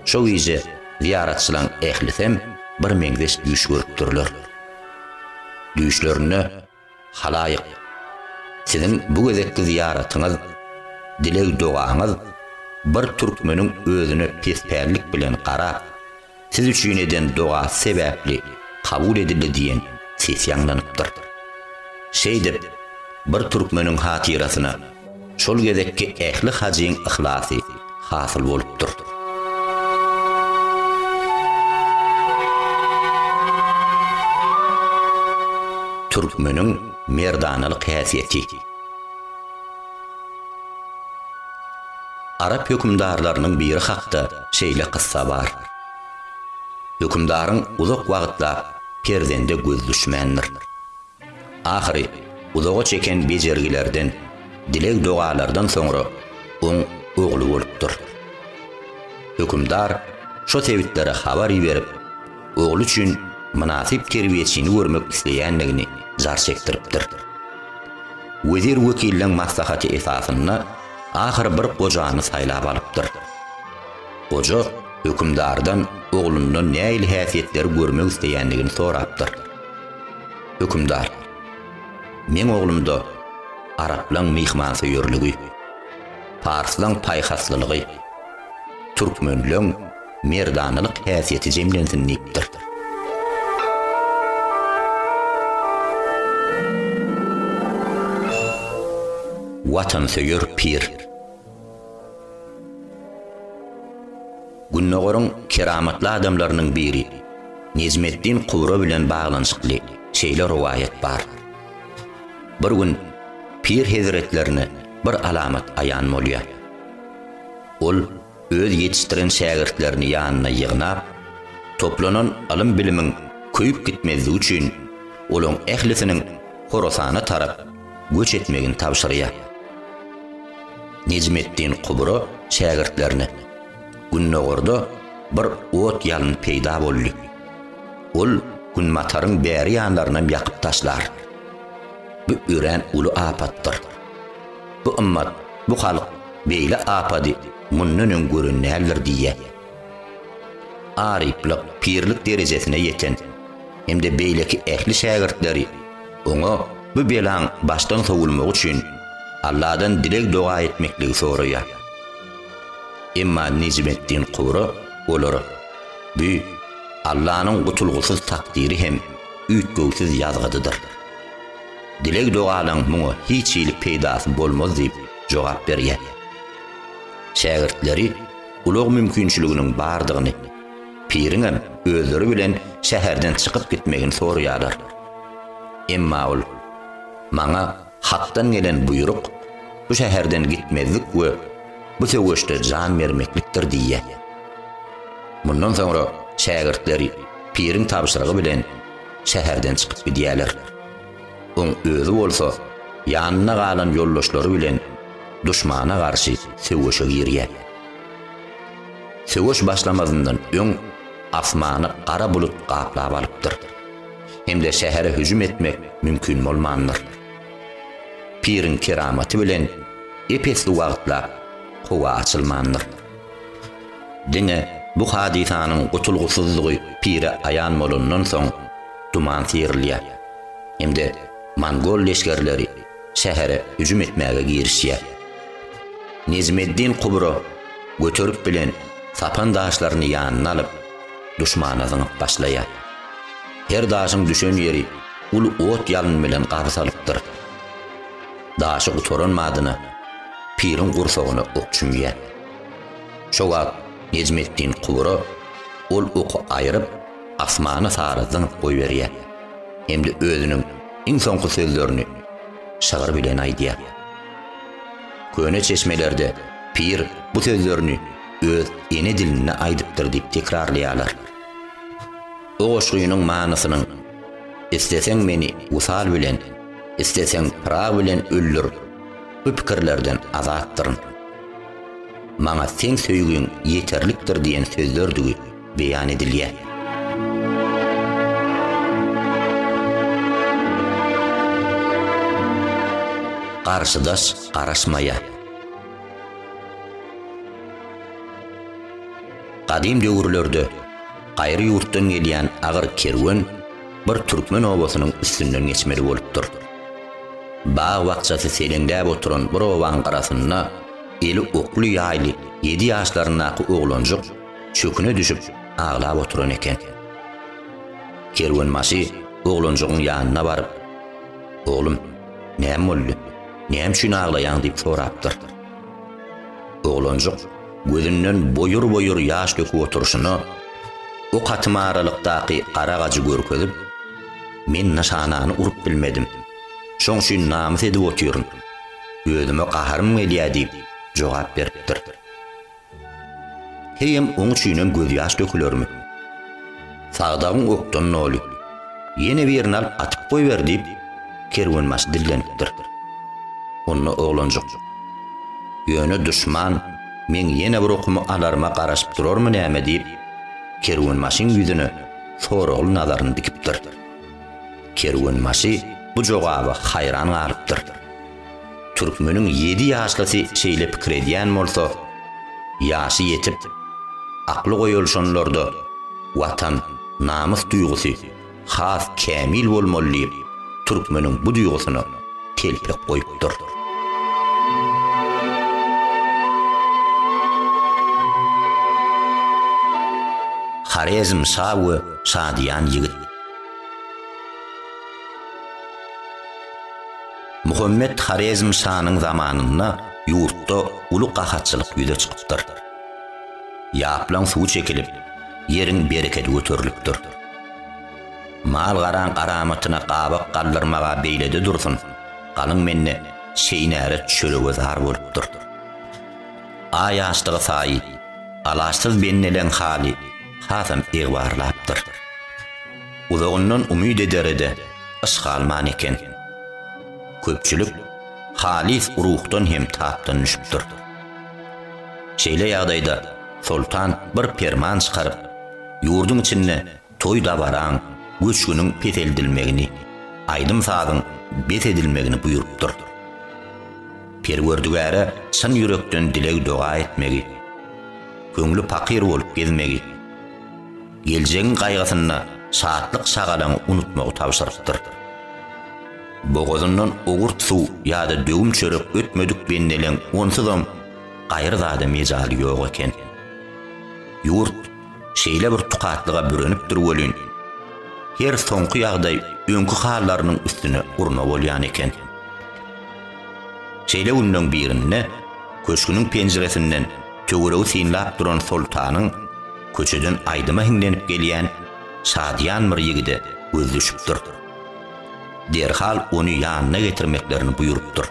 Şo gije zyýaratçylaryň ählisem birmeňzeş düýş görüpdirler. Düýşlerinde, Halaýyk, siziň bu gezekki zyýaratyňyz, dileg-dogaňyz bir türkmeniň özüne pespällik bilen garap, Siz üçin eden dogasy sebäpli kabul edildi diýen ses ýaňlanypdyr. Şeýdip, bir türkmeniň hatyrasyna şol gezekki ähli hajyň yhlasy hasyl bolupdyr. Türkmeniň merdanalyk häsiýeti. Arap hökümdarlarynyň biri hakda şeýle kyssa bar. Hökümdaryň uzak wagtlap perzende göz düşmändir. Ahyry uzaga çeken bejergilerden, dileg-dogalardan soňra oň ogly bolupdyr. Hökümdar şo sebitlere habar iberip, ogly üçin mynasyp terbiýeçini görmek isleýändigini jar çekdiripdir. Wezir wekilliň maslahaty esasynda ahyry bir gojany saýlap alypdyr. Goja hökümdardan oglundan nähili häsiýetleri görmek isleýändigini sorapdyr. Hökümdar, Meň oglumda araplaň myhmansöýerligi, parslaň paýhaslylygy, türkmenleň merdanalyk häsiýeti jemlensin diýipdir. Watansöýer pir. Gündogaryň keramatly adamlarynyň biri Nejmeddin Kubra bilen baglanyşykly şeýle rowaýat bar. Bir gün pir hezretlerine bir alamat aýan bolýar. Ol öz ýetişdiren şägirtlerini ýanyna ýygnap, toplanan ylym-bilimiň köýüp gitmezligi üçin olaň ählisiniň Horasana tarap göç etmegini tabşyrýar. Nejmeddin Kubra şägirtlerine, Gündogarda bir ot ýalyn peýda boldy. Ol günbataryň bäri ýanlarynam ýakyp taşlar. Bu örän uly apatdyr. Bu ymmat, bu halk beýle apady mundan öň gören däldir diýýär. Aryplyk, pirlik derejesine ýeten hem-de beýleki ähli şägirtleri oňa bu belaň başdan sowulmagy üçin Alladan dileg-doga etmekligi soraýar. Emma Nejmeddin Kura olara, Bu, Allanyň gutulgysyz takdyry hem üýtgewsiz ýazgydydyr. Dileg-doganyň muňa hiç hili peýdasy bolmaz diýip jogap berýär. Şägirtleri ulag mümkinçiliginiň bardygyny, piriňem özleri bilen şäherden çykyp gitmegini soraýarlar. Emma ol, Maňa Hakdan gelen buýruk bu şäherden gitmezlik we bu söweşde jan bermeklikdir diýýär. Mundan soňra şägirtleri piriň tabşyrygy bilen şäherden çykyp gidýärler. Oň özi bolsa ýanynda galan ýoldaşlary bilen duşmana garşy söweşe girýär. Söweş başlamazyndan öň asmany gara bulut gaplap alypdyr. Hem-de şähere hüjüm etmek mümkin bolmandyr. Piriň keramaty bilen ep-esli wagtlap howa açylmandyr. Diňe bu hadysanyň gutulgysyzlygy pire aýan bolandan soň duman syýrylýar hem-de mongol leşgerleri şähere hüjüm etmäge girişýär. Nejmeddin Kubro göterip bilen sapan daşlaryny ýanyna alyp, duşmana zyňyp başlaýar. Her daşyň düşen ýeri uly ot-ýalyn bilen gabsalypdyr. Daşy gutaran badyna piriň gursagyna ok çümýär. Şo wagt Nejmetdin kubura ol oky aýryp, asmana sary zyňyp goýberýär hem-de özüniň iň soňky sözlerini şygyr bilen aýdýar. Köne çeşmelerde pir bu sözlerini öz ene dilinde aýdypdyr diýip tekrarlaýarlar. Bu goşgynyň manysynyň, Isleseň meni wysal bilen, isleseň Pyragy bilen öldür, bu pikirlerden azatdyryn. Maňa seň söýgiň ýeterlikdir diýen sözlerdigi beýan edilýär. Garşydaş garaşmaýar. Gadym döwürlerde. Gaýry ýurtdan gelýän agyr kerwen bir türkmen obasynyň üstünden geçmeli bolupdyr. Bag-bakjasy seleňläp oturan bir obaň gyrasynda eli okly-ýaýly ýedi ýaşlaryndaky oglanjyk çöküne düşüp aglap oturan eken. Kerwenbaşy oglanjygyň ýanyna baryp, Oglum, näme boldy? Näme üçin aglaýaň? diýip sorapdyr. Oglanjyk. Gözünden boýur-boýur ýaş döküp oturyşyna, ok atyma aralykdaky gara gajy görkezip, Men nyşanany urup bilmedim. Şoň üçin namys edip otyryn. Özüme gaharym gelýär diýip, jogap beripdir. Heýem oň üçinem gözýaş dökülermi? Sagdagyň okdan noly. Ýene birini alyp atyp goýber, diýip, kerwenbaşy dillenipdir. Onda oglanjyk. Ýöne duşman meň ýene bir okumy alaryma garaşyp durarmy näme diýip, kerwenbaşyň ýüzüne soragly nazaryny dikipdir. Kerwenbaşy bu jogaba haýran galypdyr. Türkmeniň ýedi ýaşlysy şeýle pikir edýän bolsa, ýaşy ýetip, akly goýulşanlarda watan, namys duýgusy has kämil bolmaly diýip, türkmeniň bu duýgusyna telpek goýupdyr. Horezm şa we şadyýan ýigit. Muhammet Horezm şanyň zamanynda ýurtda uly gahatçylyk ýüze çykypdyr. Ýaplaň suwy çekilip, ýeriň berekedi göterilipdir. Mal-garaň garamatyna gabak galdyrmaga beýlede dursun, galyň mende şeýnärek çörege zar bolupdyr. Aý açdygy saýy, alaçsyz bendeleň haly hasam egbarlapdyr. Uzagyndan umyt edere-de, yş galman eken. Köpçülik halys ruhdan hem tapdan düşüpdir. Şeýle ýagdaýda soltan bir perman çykaryp, ýurduň içinde toý-dabaraň, göçgüniň peseldilmegini, aýdym-sazyň bes edilmegini buýrupdyr. Perwerdigäre çyn ýürekden dileg-doga etmegi, köňli pakyr bolup gezmegi, geljegiň gaýgysynda şatlyk-şagalaňy unutmagy tabşyrypdyr. Bogazyndan owurt suw ýa-da döwüm çörek ötmedik bendeleň onsuzam gaýry zada mejaly ýok eken. Ýurt şeýle bir tukatlyga bürenipdir welin, her soňky ýagdaý öňki hallarynyň üstüne urna bolýan eken. Şeýle günleň birinde köşgüniň penjiresinden Töweregi synlap duran Soltanyň köçeden aýdyma hiňlenip gelýän şadyýan bir ýigide göz düşüpdir. Derhal ony ýanyna getirmeklerini buýrupdyr.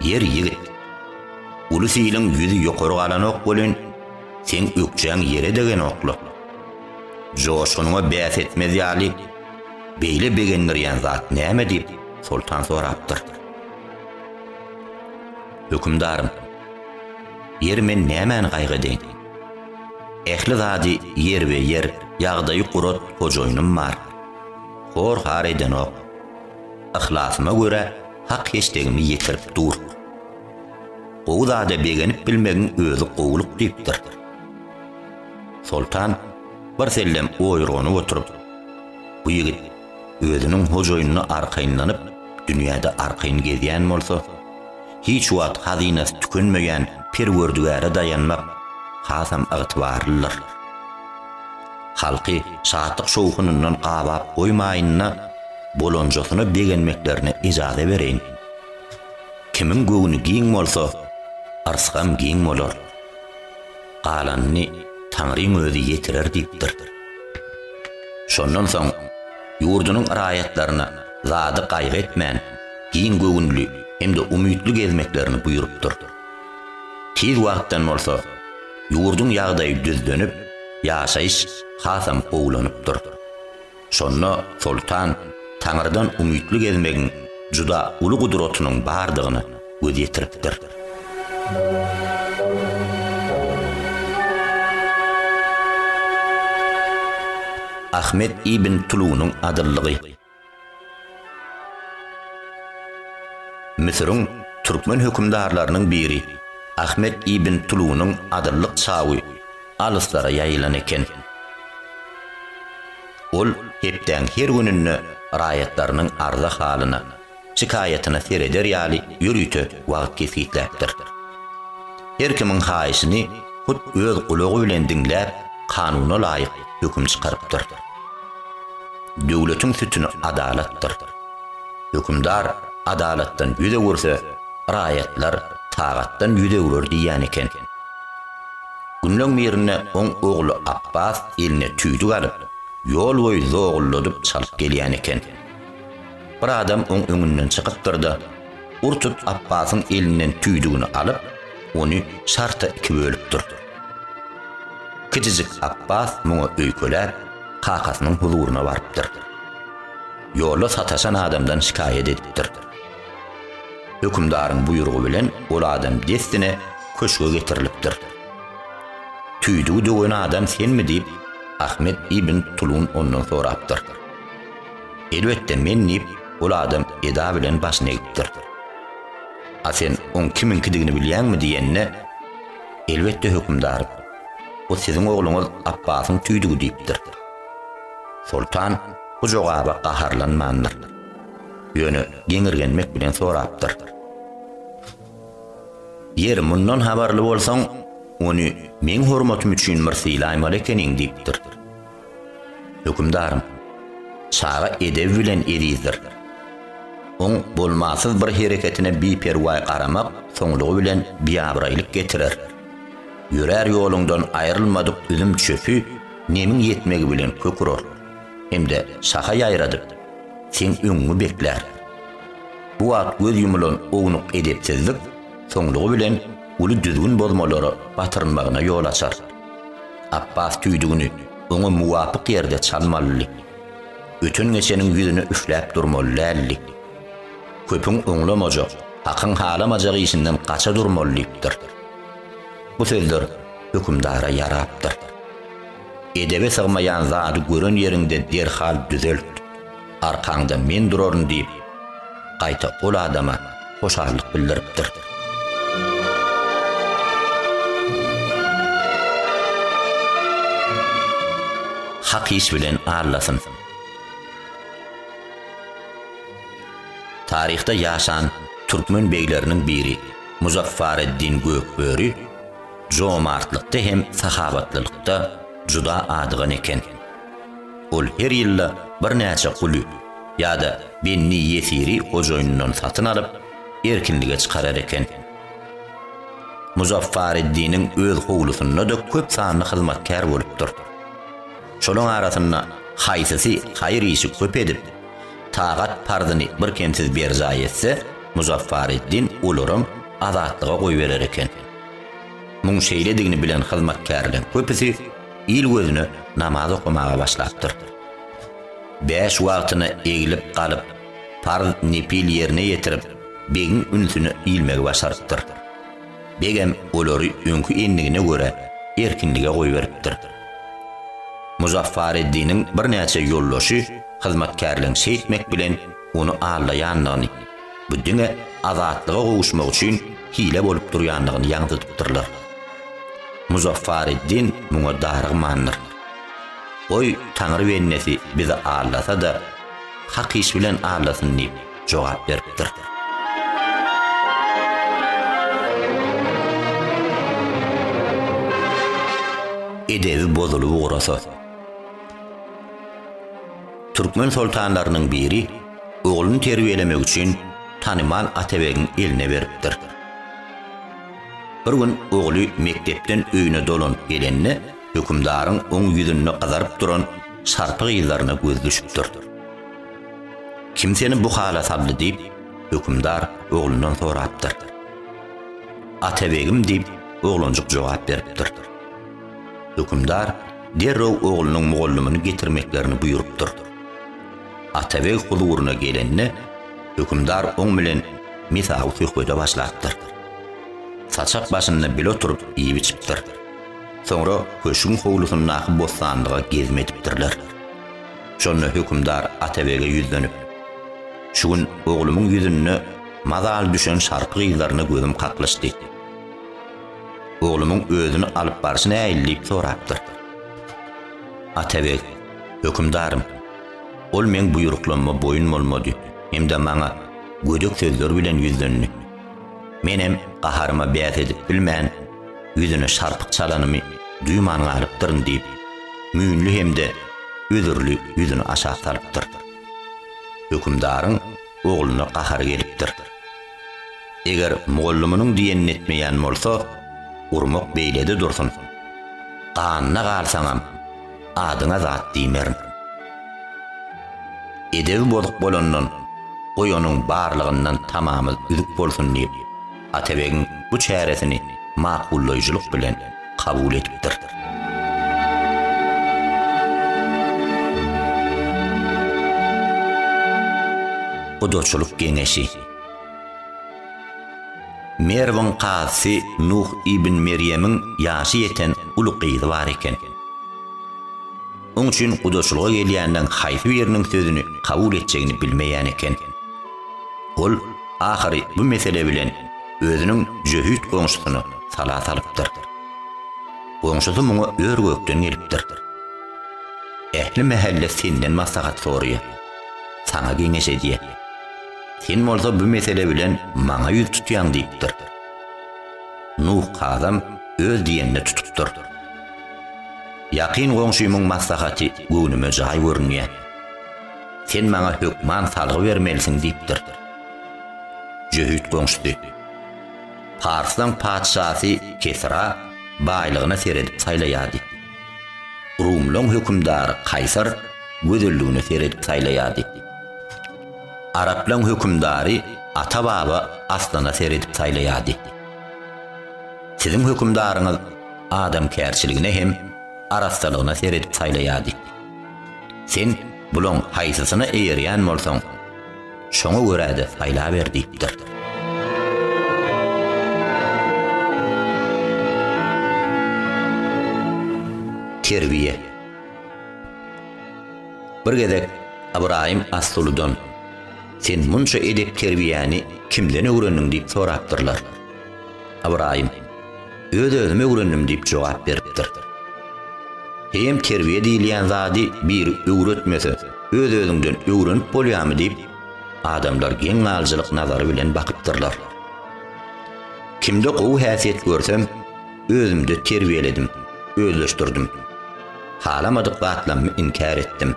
Ýer ýigit, uly siliň ýüzi ýokary galanok welin, seň ökjäň ýere degenok-la. Joşgunyňa bäs etmez ýaly, beýle begendirýän zat näme diýip, Soltan sorapdyr. Hökümdarym, ýeri men nämäni gaýgy edeýin? Ähli zady ýerbe-ýer, ýagdaýy gurat hojaýynym bar. Hor-har edenok. Yhlasyma görä hak-heçligimi ýetirip dur. Gowy zada begenip bilmegiň özi gowulyk diýipdir. Soltan birsellem oýurganyp oturyp, Bu ýigit özüniň hojaýynyna arkaýynlanyp, dünýäde arkaýyn gezýän bolsa, hiç wagt hazynasy tükenmeýän Perwerdigäre daýanmak hasam ygtybarlydyr. Halky şatlyk-şowhunyndan gabap goýmaýyn-da, bolanjasyna begenmeklerine ejaza bereýin. Kimiň göwni giň bolsa, yrsgam giň bolar. galanyny Taňryň özi ýetirer diýipdir. Şondan soň ýurdunyň raýatlaryna zady gaýgy etmän, giň göwünli hem-de umytly gezmeklerini buýrupdyr. Tiz wagtdan bolsa ýurduň ýagdaýy düzlenip, ýaşaýyş hasam gowulanypdyr. Şonda soltan Taňrydan umytly gezmegiň juda uly gudratynyň bardygyna göz ýetiripdir. Ahmet ibn Tulunyň adyllygy. Müsüriň türkmen hökümdarlarynyň biri Ahmet ibn Tulunyň adyllyk çawy alyslara ýaýylan eken. Ol hepdäň her gününde raýatlarynyň arza-halyna, şikaýatyna sereder ýaly ýörite wagt kesgitläpdir. Her kimiň haýyşyny hut öz gulagy bilen diňläp, kanuna laýyk höküm çykarypdyr. Döwletiň sütüni adalatdyr. Hökümdar adalatdan ýüz öwürse, raýatlar tagatdan ýüz öwrer diýýän eken. Günleň birinde oň ogly Apbas eline tüýdük alyp, ýol boýy zogulladyp çalyp gelýän eken. Bir adam oň öňünden çykypdyr-da, ur tut Apbasyň elinden tüýdügini alyp, ony şarta iki bölüpdir. Kiçijik Apbas muňa öýkeläp, kakasynyň huzuryna barypdyr. Ýolda sataşan adamdan şikaýat edipdir. Hökümdaryň buýrugy bilen ol adam dessine köşge getirilipdir. Tüýdügi döwen adam senmi diýip, Ahmet ibn Tulun ondan sorapdyr. Elbetde men diýip, ol adam eda bilen başyny egipdir. A sen oň kimiňkidigini bilýäňmi diýende, Elbetde hökümdar, o siziň ogluňyz Apbasyň tüýdügi diýipdir. Soltan bu jogaba gaharlanmandyr. Ýöne geňirgenmek bilen sorapdyr. Ýeri, mundan habarly bolsaň, ony meň hormatym üçin bir sylaýmaly ekeniň, diýipdir. Hökümdarym, çaga edebi bilen ezizdir. Oň bolmasyz bir hereketine biperwaý garamak soňlugy bilen biabraýlyk getirer. Ýörär ýoluňdan aýrylmadyk üzüm çöpi nemiň ýetmegi bilen kök urar. hem-de şaha ýaýradyp, seň öňüňi beklär. Bu wagt göz ýumulan ownuk edepsizlik soňlugy bilen uly düzgün bozmalara batyrylmagyna ýol açar. Apbas tüýdügini oňa muwapyk ýerde çalmalydy. Öten-geçeniň ýüzüne üfläp durmaly däldi. Köpüň oňlamajak, hakyň halamajak işinden gaça durmaly diýipdir. Bu sözler hökümdara ýarapdyr. Edebe sygmaýan zady gören ýeriňde derhal düzelt. Arkaňda men duraryn diýip, gaýta ol adama hoşallyk bildiripdir. Hak iş bilen allasyn. Taryhda ýaşan türkmen begleriniň biri Muzaffareddin Gökböri jomartlykda hem sahawatlylykda juda adygan eken. Ol her ýylda birnäçe guly ýa-da benni ýesiri hojaýynyndan satyn alyp, erkinlige çykarar eken. Muzaffareddiniň öz howlusynda-da köp sanly hyzmatkär bolupdyr. Şolaryň arasynda haýsysy haýyr işi köp edip, tagat parzyny birkemsiz berjaý etse, Muzaffareddin olaram azatlyga goýberer eken. Muň şeýledigini bilen hyzmatkärleriň köpüsi il gözüne namaz okamaga başlapdyr. Bäş wagtyna egilip galyp, parz nepil ýerine ýetirip, begiň ünsüne ilmegi başarypdyr. Begem olary öňki endigine görä erkinlige goýberipdir. Muzaffareddiniň birnäçe ýoldaşy hyzmatkärleriň şeýtmek bilen ony aldaýandygyny, Bu diňe azatlyga gowuşmak üçin hile bolup durýandygyny ýaňzydypdyrlar. Muzaffareddin muňa darygmandyr. Goý, Taňry bendesi bizi aldasa-da, hak iş bilen aldasyn diýip jogap beripdir. Edebi bozulyp ugrasa. Türkmen soltanlarynyň biri ogluny terbiýelemek üçin tanymal Atabegiň eline beripdir. Bir gün ogly mekdepden öýüne dolanyp gelende, hökümdaryň oň ýüzünde gyzaryp duran şarpy gyzlaryna gözi düşüpdir. Kim seni bu hala saldy diýip, hökümdar oglundan sorapdyr. Atabegim diýip, oglanjyk jogap beripdir. Hökümdar derrew oglunyň mugallymyny getirmeklerini buýrupdyr. Atabeg huzuryna gelende, hökümdar oň bilen mesawy söhbede başlapdyr. Saçak başynda bile oturyp iýip-içipdir. Soňra köşgüň howlusyndaky bossanlyga gezme edipdirler. Şonda hökümdar Atabege ýüzlenip, Şu gün oglumyň ýüzünde mazaly düşen şarpy gyzlaryna gözüm kaklyşdy. Oglumyň özüni alyp barşy nähili diýip sorapdyr. Atabeg, Hökümdarym! Ol meň buýruklanyma boýun bolmady hem-de maňa gödek sözler bilen ýüzlendi. Menem gaharyma bäs edip bilmän, ýüzüne şarpyk çalanymy duýman galypdyryn diýip, müýnli hem-de özürli ýüzüni aşak salypdyr. Hökümdaryň ogluna gahary gelipdir. Eger mugallymynyň diýenini etmeýän bolsa, urmak beýlede dursun. Ganyna galsaňam, adyňa zat diýmerin. Edebi bozuk bolandan, goý onuň barlygyndan tamamyz üzük bolsun diýip, Atabegiň bu çäresini makullaýjylyk bilen kabul edipdir. Gudaçylyk geňeşi. Merwiň kazysy Nuh ibn Merýemiň ýaşy ýeten uly gyzy bar eken. Oň üçin gudaçylyga gelýänleň haýsy biriniň sözüni kabul etjegini bilmeýän eken. Ol ahyry bu mesele bilen özüniň jöhit goňşusyna sala salypdyr. Goňşusy muňa ör-gökden gelipdir. Ähli mähelle senden maslahat soraýar. Saňa geňeş edýär. Sen bolsa bu mesele bilen maňa ýüz tutýaň diýipdir. Nuh kazam öz diýenine tutupdyr. Ýakyn goňşymyň maslahaty göwnüme jaý görünýär. Sen maňa hökman salgy bermelisiň diýipdir. Jöhit goňşusy, Parslaň patyşasy Kesra baýlygyna seredip saýlaýardy. Rumlaň hökümdary Kaýsar gözelligine seredip saýlaýardy. Araplaň hökümdary ata-baba aslana seredip saýlaýardy. Siziň hökümdaryňyz adamkärçiligine hem arassalygyna seredip saýlaýardy. Sen bulaň haýsysyna eýerýän bolsaň, şoňa görä-de saýlaber diýipdir. Terbiýe. Bir gezek Ybraýym Assuludan, Sen munça edep-terbiýäni kimden öwrendiň diýip sorapdyrlar. Ybraýym, Öz-özüm öwrendim diýip jogap beripdir. Heýem terbiýe diýilýän zady biri öwretmese, öz-özüňden öwrenip bolýarmy diýip, adamlar geň galyjylyk nazary bilen bakypdyrlar. Kimde gowy häsiýet görsem, özümde terbiýeledim, özleşdirdim. Halamadyk zatlarymy inkär etdim.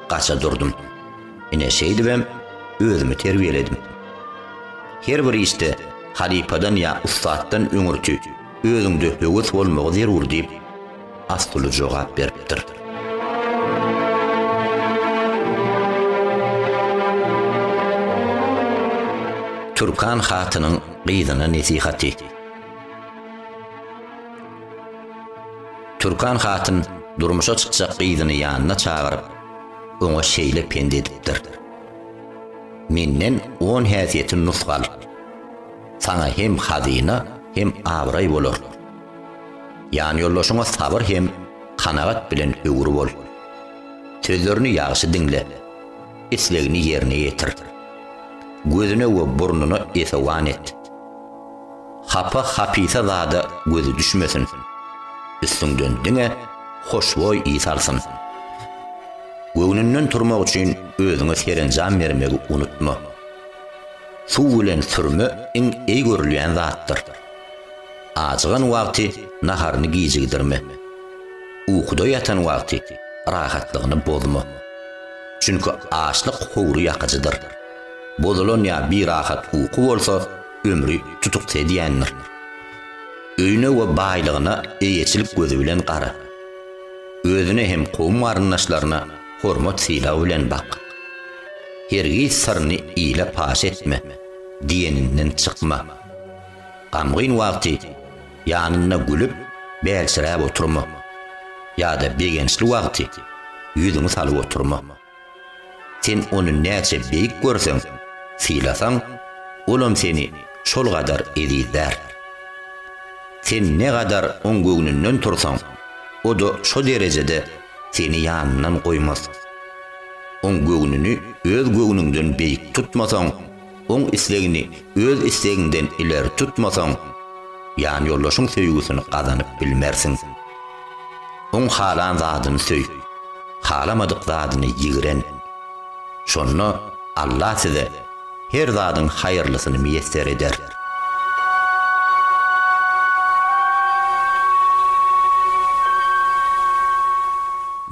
Gaça durdum. Ine şeýdibem özümi terbiýeledim. Her bir işde halypadan ýa ussatdan öňürti özüňde höwes bolmagy zerur diýip, Astuly jogap beripdir. Türkan hatynyň gyzyna nesihaty. Türkan hatyn durmuşa çykjak gyzyny ýanyna çagyryp, oňa şeýle pent edipdir, Menden on häsiýeti nusga al. Saňa hem hazyna, hem abraý bolar. Ýanýoldaşyňa sabyr hem kanagat bilen öwür bol. Sözlerini ýagşy diňle. Islegini ýerine ýetir. Gözüne we burnuna esewan et. hapa-hapisa zada gözi düşmesin. Üstüňden diňe hoşboý ys alsyn. Göwnünden turmak üçin özüňe serenjam bermegi unutma. Suw bilen sürme iň eý görülýän zatdyr. Ajygan wagty naharyny gijigdirme. Ukuda ýatan wagty rahatlygyny bozma. Çünki açlyk howry ýakyjydyr. Bozulan ýa birahat uky bolsa, ömri tutukdy edýändir. Öýüne we baýlygyna eýeçilik gözi bilen gara. Özüne hem kowum-garyndaşlaryna hormat-sylag bilen bak. Hergiz syryny ile paş etme, diýeninden çykma. Gamgyn wagty ýanynda gülüp, bälçiräp oturma. Ýa-da begençli wagty ýüzüňi salyp oturma. Sen ony näçe beýik görseň, sylasaň, olam seni şol gadar ezizlär. Sen ne gadar oň göwnünden tursaň, o-da şo derejede seni ýanyndan goýmaz. Oň göwnüni öz göwnüňden beýik tutmasaň, Oň islegini öz islegiňden ileri tutmasaň, ýanýoldaşyň söýgüsini gazanyp bilmersiň. Oň halan zadyny söý, halamadyk zadyny ýigren. Şonda Alla size her zadyň haýyrlysyny miýesser eder.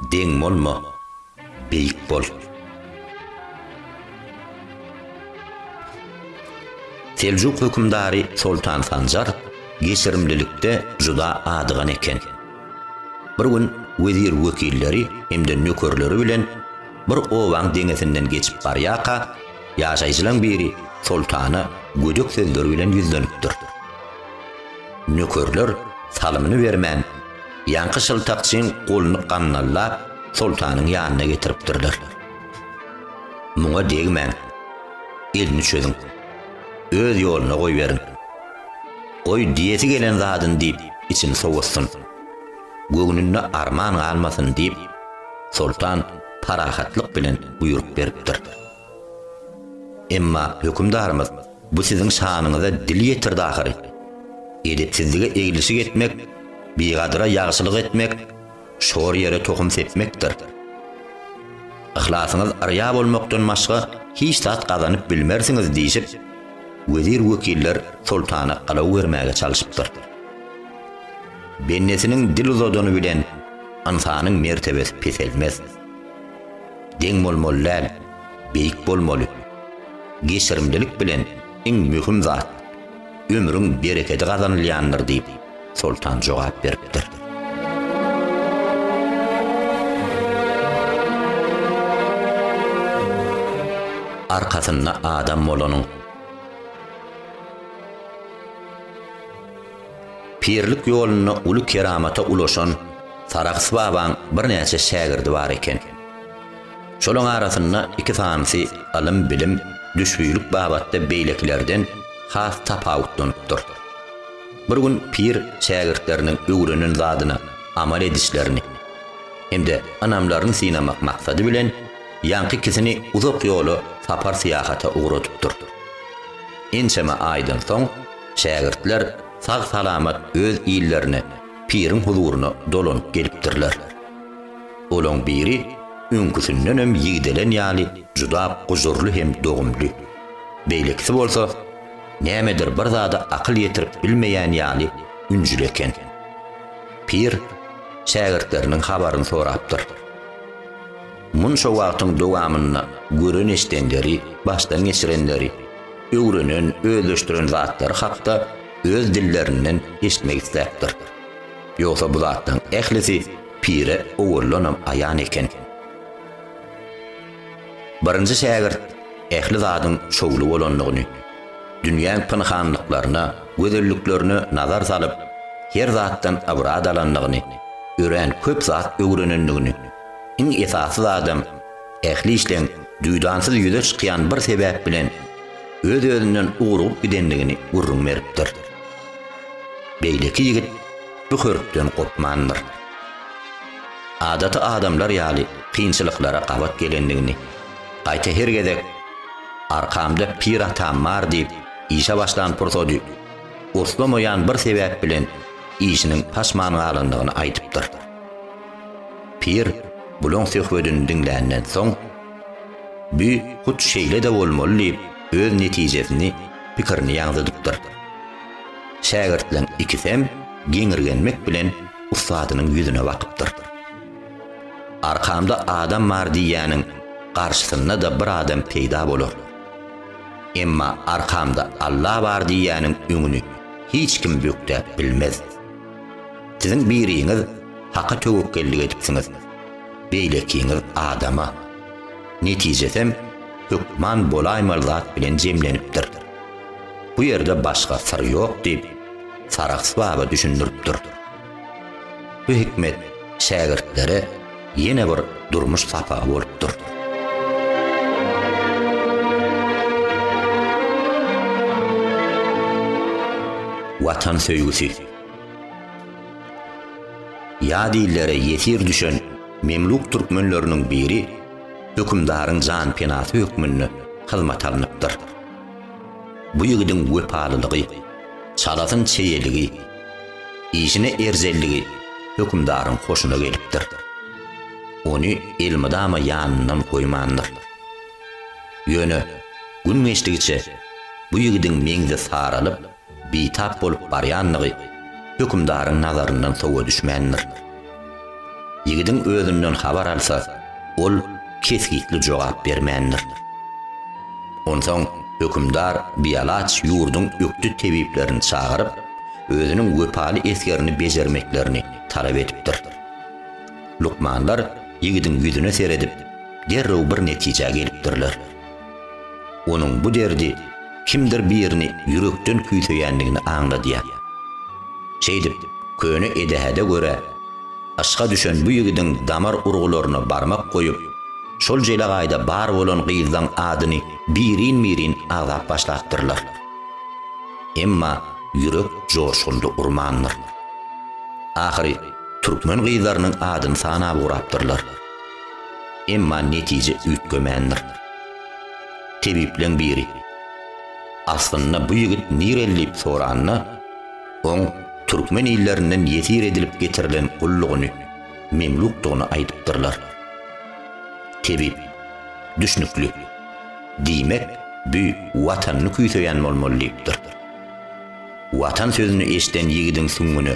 Deň bolma. Beýik bol. Seljuk hökümdary Soltan Sanjar geçirimlilikde juda adygan eken. Bir gün wezir-wekilleri hem-de nökerleri bilen bir obaň deňesinden geçip barýarka, ýaşaýjylaň biri soltana gödek sözler bilen ýüzlenipdir. Nökerler salymyny bermän, ýaňky şyltakçyň goluny gandallap, soltanyň ýanyna getiripdirler. Muňa degmäň. Elini çözüň. Öz ýoluna goýberiň. Goý, diýesi gelen zadyn diýip, içini sowutsyn. Göwnünde arman galmasyn diýip, soltan parahatlyk bilen buýruk beripdir. Emma hökümdarymyz Bu siziň şanyňyza dil ýetirdi ahyry. Edepsizlige eglişik etmek, bigadyra ýagşylyk etmek, şor ýere tohum sepmekdir. Yhlasyňyz yrýa bolmakdan başga hiç zat gazanyp bilmersiňiz diýşip, wezir-wekiller soltana alaw bermäge çalşypdyr. Bendesiniň dil uzadany bilen ynsanyň mertebesi peselmez. Deň bolmaly däl, beýik bolmaly. Geçirimlilik bilen iň möhüm zat, ömrüň berekedi gazanylýandyr diýip, Soltan jogap beripdir. Arkasynda adam bolanyň. Pirlik ýolunda uly keramata ulaşan Sarahs babaň birnäçe şägirdi bar eken. Şolaň arasynda iki sanysy ylym-bilim, düşbülik babatda beýlekilerden has tapawutlanypdyr. Bir gün pir şägirtleriniň öwrenen zadyna amal edişlerini hem-de ynamlaryny synamak maksady bilen, ýaňky ikisini uzak ýola sapar-syýahata ugradypdyr. Ençeme aýdan soň, Şägirtler sag-salamat öz illerine, piriň huzuryna dolanyp gelipdirler. Olaň biri öňküsindenem ýigdelen ýaly juda gujurly hem dogumly, beýlekisi bolsa nämedir bir zada akyl ýetirip bilmeýän ýaly ünjüli eken. Pir şägirtleriniň habaryny sorapdyr. Munça wagtyň dowamynda gören-eşdenleri, başdan geçirenleri, öwrenen, özleşdiren zatlary hakda öz dillerinden eşitmek isläpdir. Ýogsa bu zatlaryň ählisi pire owaldanam aýan eken. Birinji şägirt ähli zadyň şowly bolandygyny, dünýäň pynhanlyklaryna, gözelliklerine nazar salyp, her zatdan ybrat alandygyny, örän köp zat öwrenendigini, iň esasy zadam, Ähli işleň duýdansyz ýüze çykýan bir sebäp bilen öz-özünden ugrugyp gidendigini gürrüň beripdir. Beýleki ýigit bu hörpden gopmandyr. Adaty adamlar ýaly kynçylyklara gabat gelendigini, gaýta her gezek Arkamda pir atam bar diýip işe başlan pursady urslamaýan bir sebäp bilen işiniň paşman galandygyny aýdypdyr. Pir bulaň söhbedini diňländen soň, Bu hut şeýle-de bolmaly diýip, öz netijesini, pikirini ýaňzydypdyr. Şägirtleň ikisem geňirgenmek bilen ussadynyň ýüzüne bakypdyr. Arkamda adam bar diýýäniň garşysynda-da bir adam peýda bolar. Emma arkamda Alla bar diýýäniň öňüni hiç kim bökdäp bilmez. Siziň biriňiz Haka töwekgellik edipsiňiz, beýlekiňiz adama. Netijesem hökman bolaýmaly zat bilen jemlenipdir. Bu ýerde başga syr ýok diýip, Sarahs baba düşündiripdir. Bu hikmet şägirtlere ýene bir durmuş sapagy bolupdyr. Watan söýgüsi. Ýat illere ýesir düşen memluk türkmenleriniň biri hökümdaryň janpenasy hökmünde hyzmata alnypdyr. Bu ýigidiň wepalylygy, çalasyn çeýeligi, Işine erjelligi hökümdaryň hoşuna gelipdir. Ony elmydama ýanyndan goýmandyr. Ýöne gün geçdigiçe bu ýigidiň meňzi saralyp, bitap bolup barýandygy hökümdaryň nazaryndan sowa düşmändir. Ýigidiň özünden habar alsa, ol kesgitli jogap bermändir. Onsoň hökümdar bialaç ýurduň ökde tebiplerini çagyryp, özüniň wepaly esgerini bejermeklerini talap edipdir. Lukmanlar ýigidiň ýüzüne seredip, derrew bir netijä gelipdirler. Onuň bu derdi kimdir birini ýürekden küýseýändigini aňladýar. Şeýdip, köne edähede görä, yşka düşen bu ýigidiň damar urgularyna barmak goýup, şol jelegaýda bar bolan gyzlaň adyny birin-birin agzap başlapdyrlar. Emma ýürek joşgunly urmandyr. Ahyry türkmen gyzlarynyň adyny sanap ugrapdyrlar. Emma netije üýtgemändir. Tebipleň biri, Aslynda bu ýigit nireli diýip soranda, oň türkmen illerinden ýesir edilip getirilen gullugyny, memlukdygyny aýdypdyrlar. Tebip, Düşnükli. Diýmek, bü watanyny küýseýän bolmaly diýipdir. Watan sözüni eşden ýigidiň süňňüne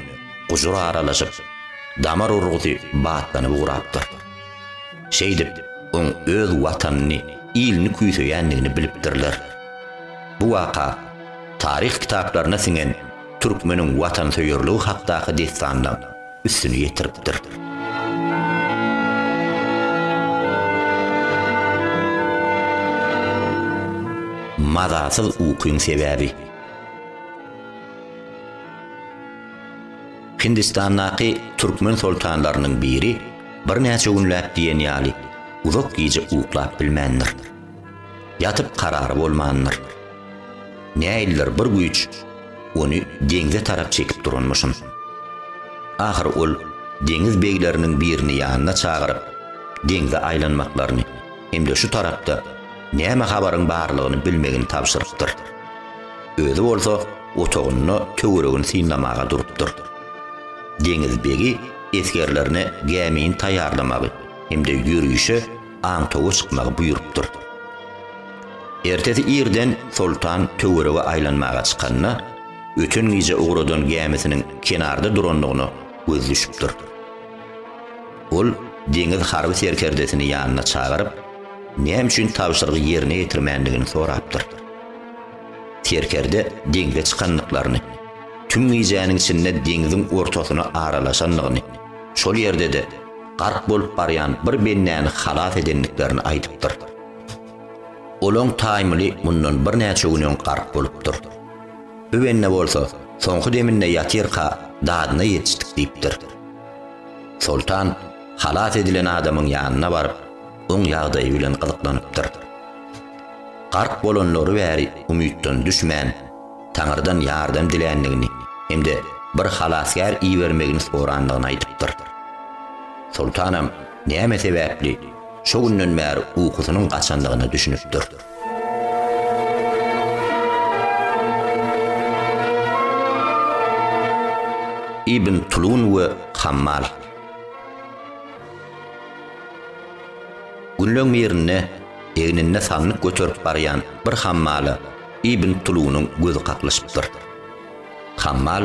gujur aralaşyp, damar urgusy batlanyp ugrapdyr. Şeýdip, oň öz Watanyny, ilini küýseýändigini bilipdirler. Bu waka taryh kitaplaryna siňen türkmeniň watansöýerligi hakdaky dessanynyň üstüni ýetiripdir. Mazasyz ukyň sebäbi. Hindistandaky türkmen soltanlarynyň biri birnäçe günläp diýen ýaly uzak gije uklap bilmändir. Ýatyp karary bolmandyr. Näildir bir güýç ony deňze tarap çekip duranmyşyn. Ahyry ol deňiz begleriniň birini ýanyna çagyryp, deňze aýlanmaklaryny hem-de şu tarapda näme habaryň barlygyny bilmegini tabşyrypdyr. Özi bolsa otagynda töweregini synlamaga durupdyr. Deňiz begi esgerlerine gämini taýýarlamagy hem-de ýörişe aňtawa çykmagy buýrupdyr. Ertesi irden soltan töwerege aýlanmaga çykanda, öten gije ugradan gämisiniň kenarda durandygyna göz düşüpdir. Ol deňiz harby serkerdesini ýanyna çagyryp, näme üçin tabşyrygy ýerine ýetirmändigini sorapdyr. Serkerde deňze çykandyklaryny, tüm gijäniň içinde deňziň ortasyna aralaşandygyny, şol ýerde-de gark bolup barýan bir bendäni halas edendiklerini aýdypdyr. Olaň taýmyly mundan birnäçe gün öň gark bolupdyr. Öwenne bolsa, soňky deminde ýatyrka dadyna ýetişdik diýipdir. Soltan halas edilen adamyň ýanyna baryp, oň ýagdaýy bilen gyzyklanypdyr. Gark bolanlary bäri umytdan düşmän, Taňyrdan ýardam diländigini hem-de bir halasgär ibermegini sorandygyny aýdypdyr. Soltanam näme sebäpli şo günden bäri ukusynyň gaçandygyna düşünipdir. Ibn Tulun we Hammal. Günleň birinde egninde sandyk göterip barýan bir hammala Ibn Tulunyň gözi kaklyşypdyr. Hammal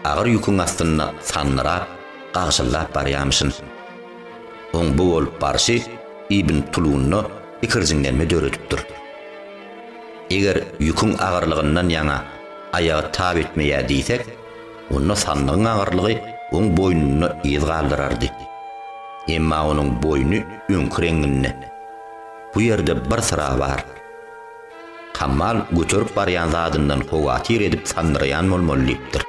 agyr ýüküň astynda sandyrap, gagşyldap barýamyşyn. Oň bu bolup barşy Ibn Tulunda ikirjiňlenme döredipdir. Eger ýüküň agyrlygyndan ýaňa aýagy tab etmeýär diýsek, onda sandygyň agyrlygy oň boýnunda yz galdyrardy. Emma onuň boýny öňki reňinde. Bu ýerde bir syra bar. Hammal göterip barýan zadyndan howatyr edip sandyraýan bolmaly diýipdir.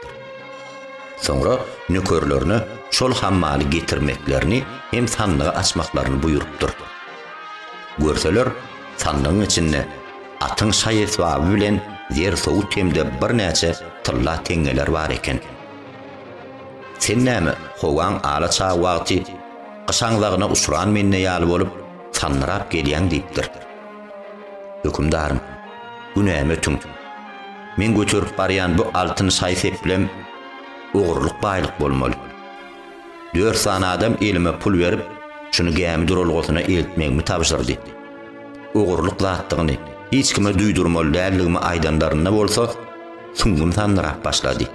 Soňra nökerlerine şol hammaly getirmeklerini hem sandygy açmaklaryny buýrupdyr. Görseler, sandygyň içinde atyň şaý-esbaby bilen zer-sowut hem-de birnäçe tylla teňňeler bar eken. Sen näme, howaň ala çag wagty gyş aňzagyna uçran mende ýaly bolup, sandyrap gelýäň diýipdir. Hökümdarym, günämi ötüň. Meň göterip barýan bu altyn şaý-seplem ogurlyk baýlyk bolmaly. Dört sany adam elime pul berip, şuny gämi duralgasyna eltmegimi tabşyrdy. Ogurlyk zatdygyny hiç kime duýdurmaly däldigimi aýdanlarynda bolsa, süňňüm sandyrap başlady.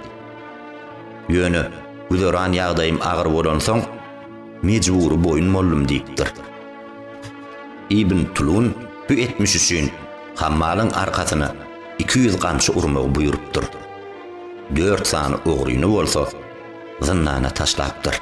Ýöne güzeran ýagdaýym agyr bolansoň, mejbury boýun boldum diýipdir. Ibn Tulun bu etmiş üçin Hammalyň arkasyna iki ýüz gamçy urmagy buýrupdyr. Dört sany ogryny bolsa zyndana taşlapdyr.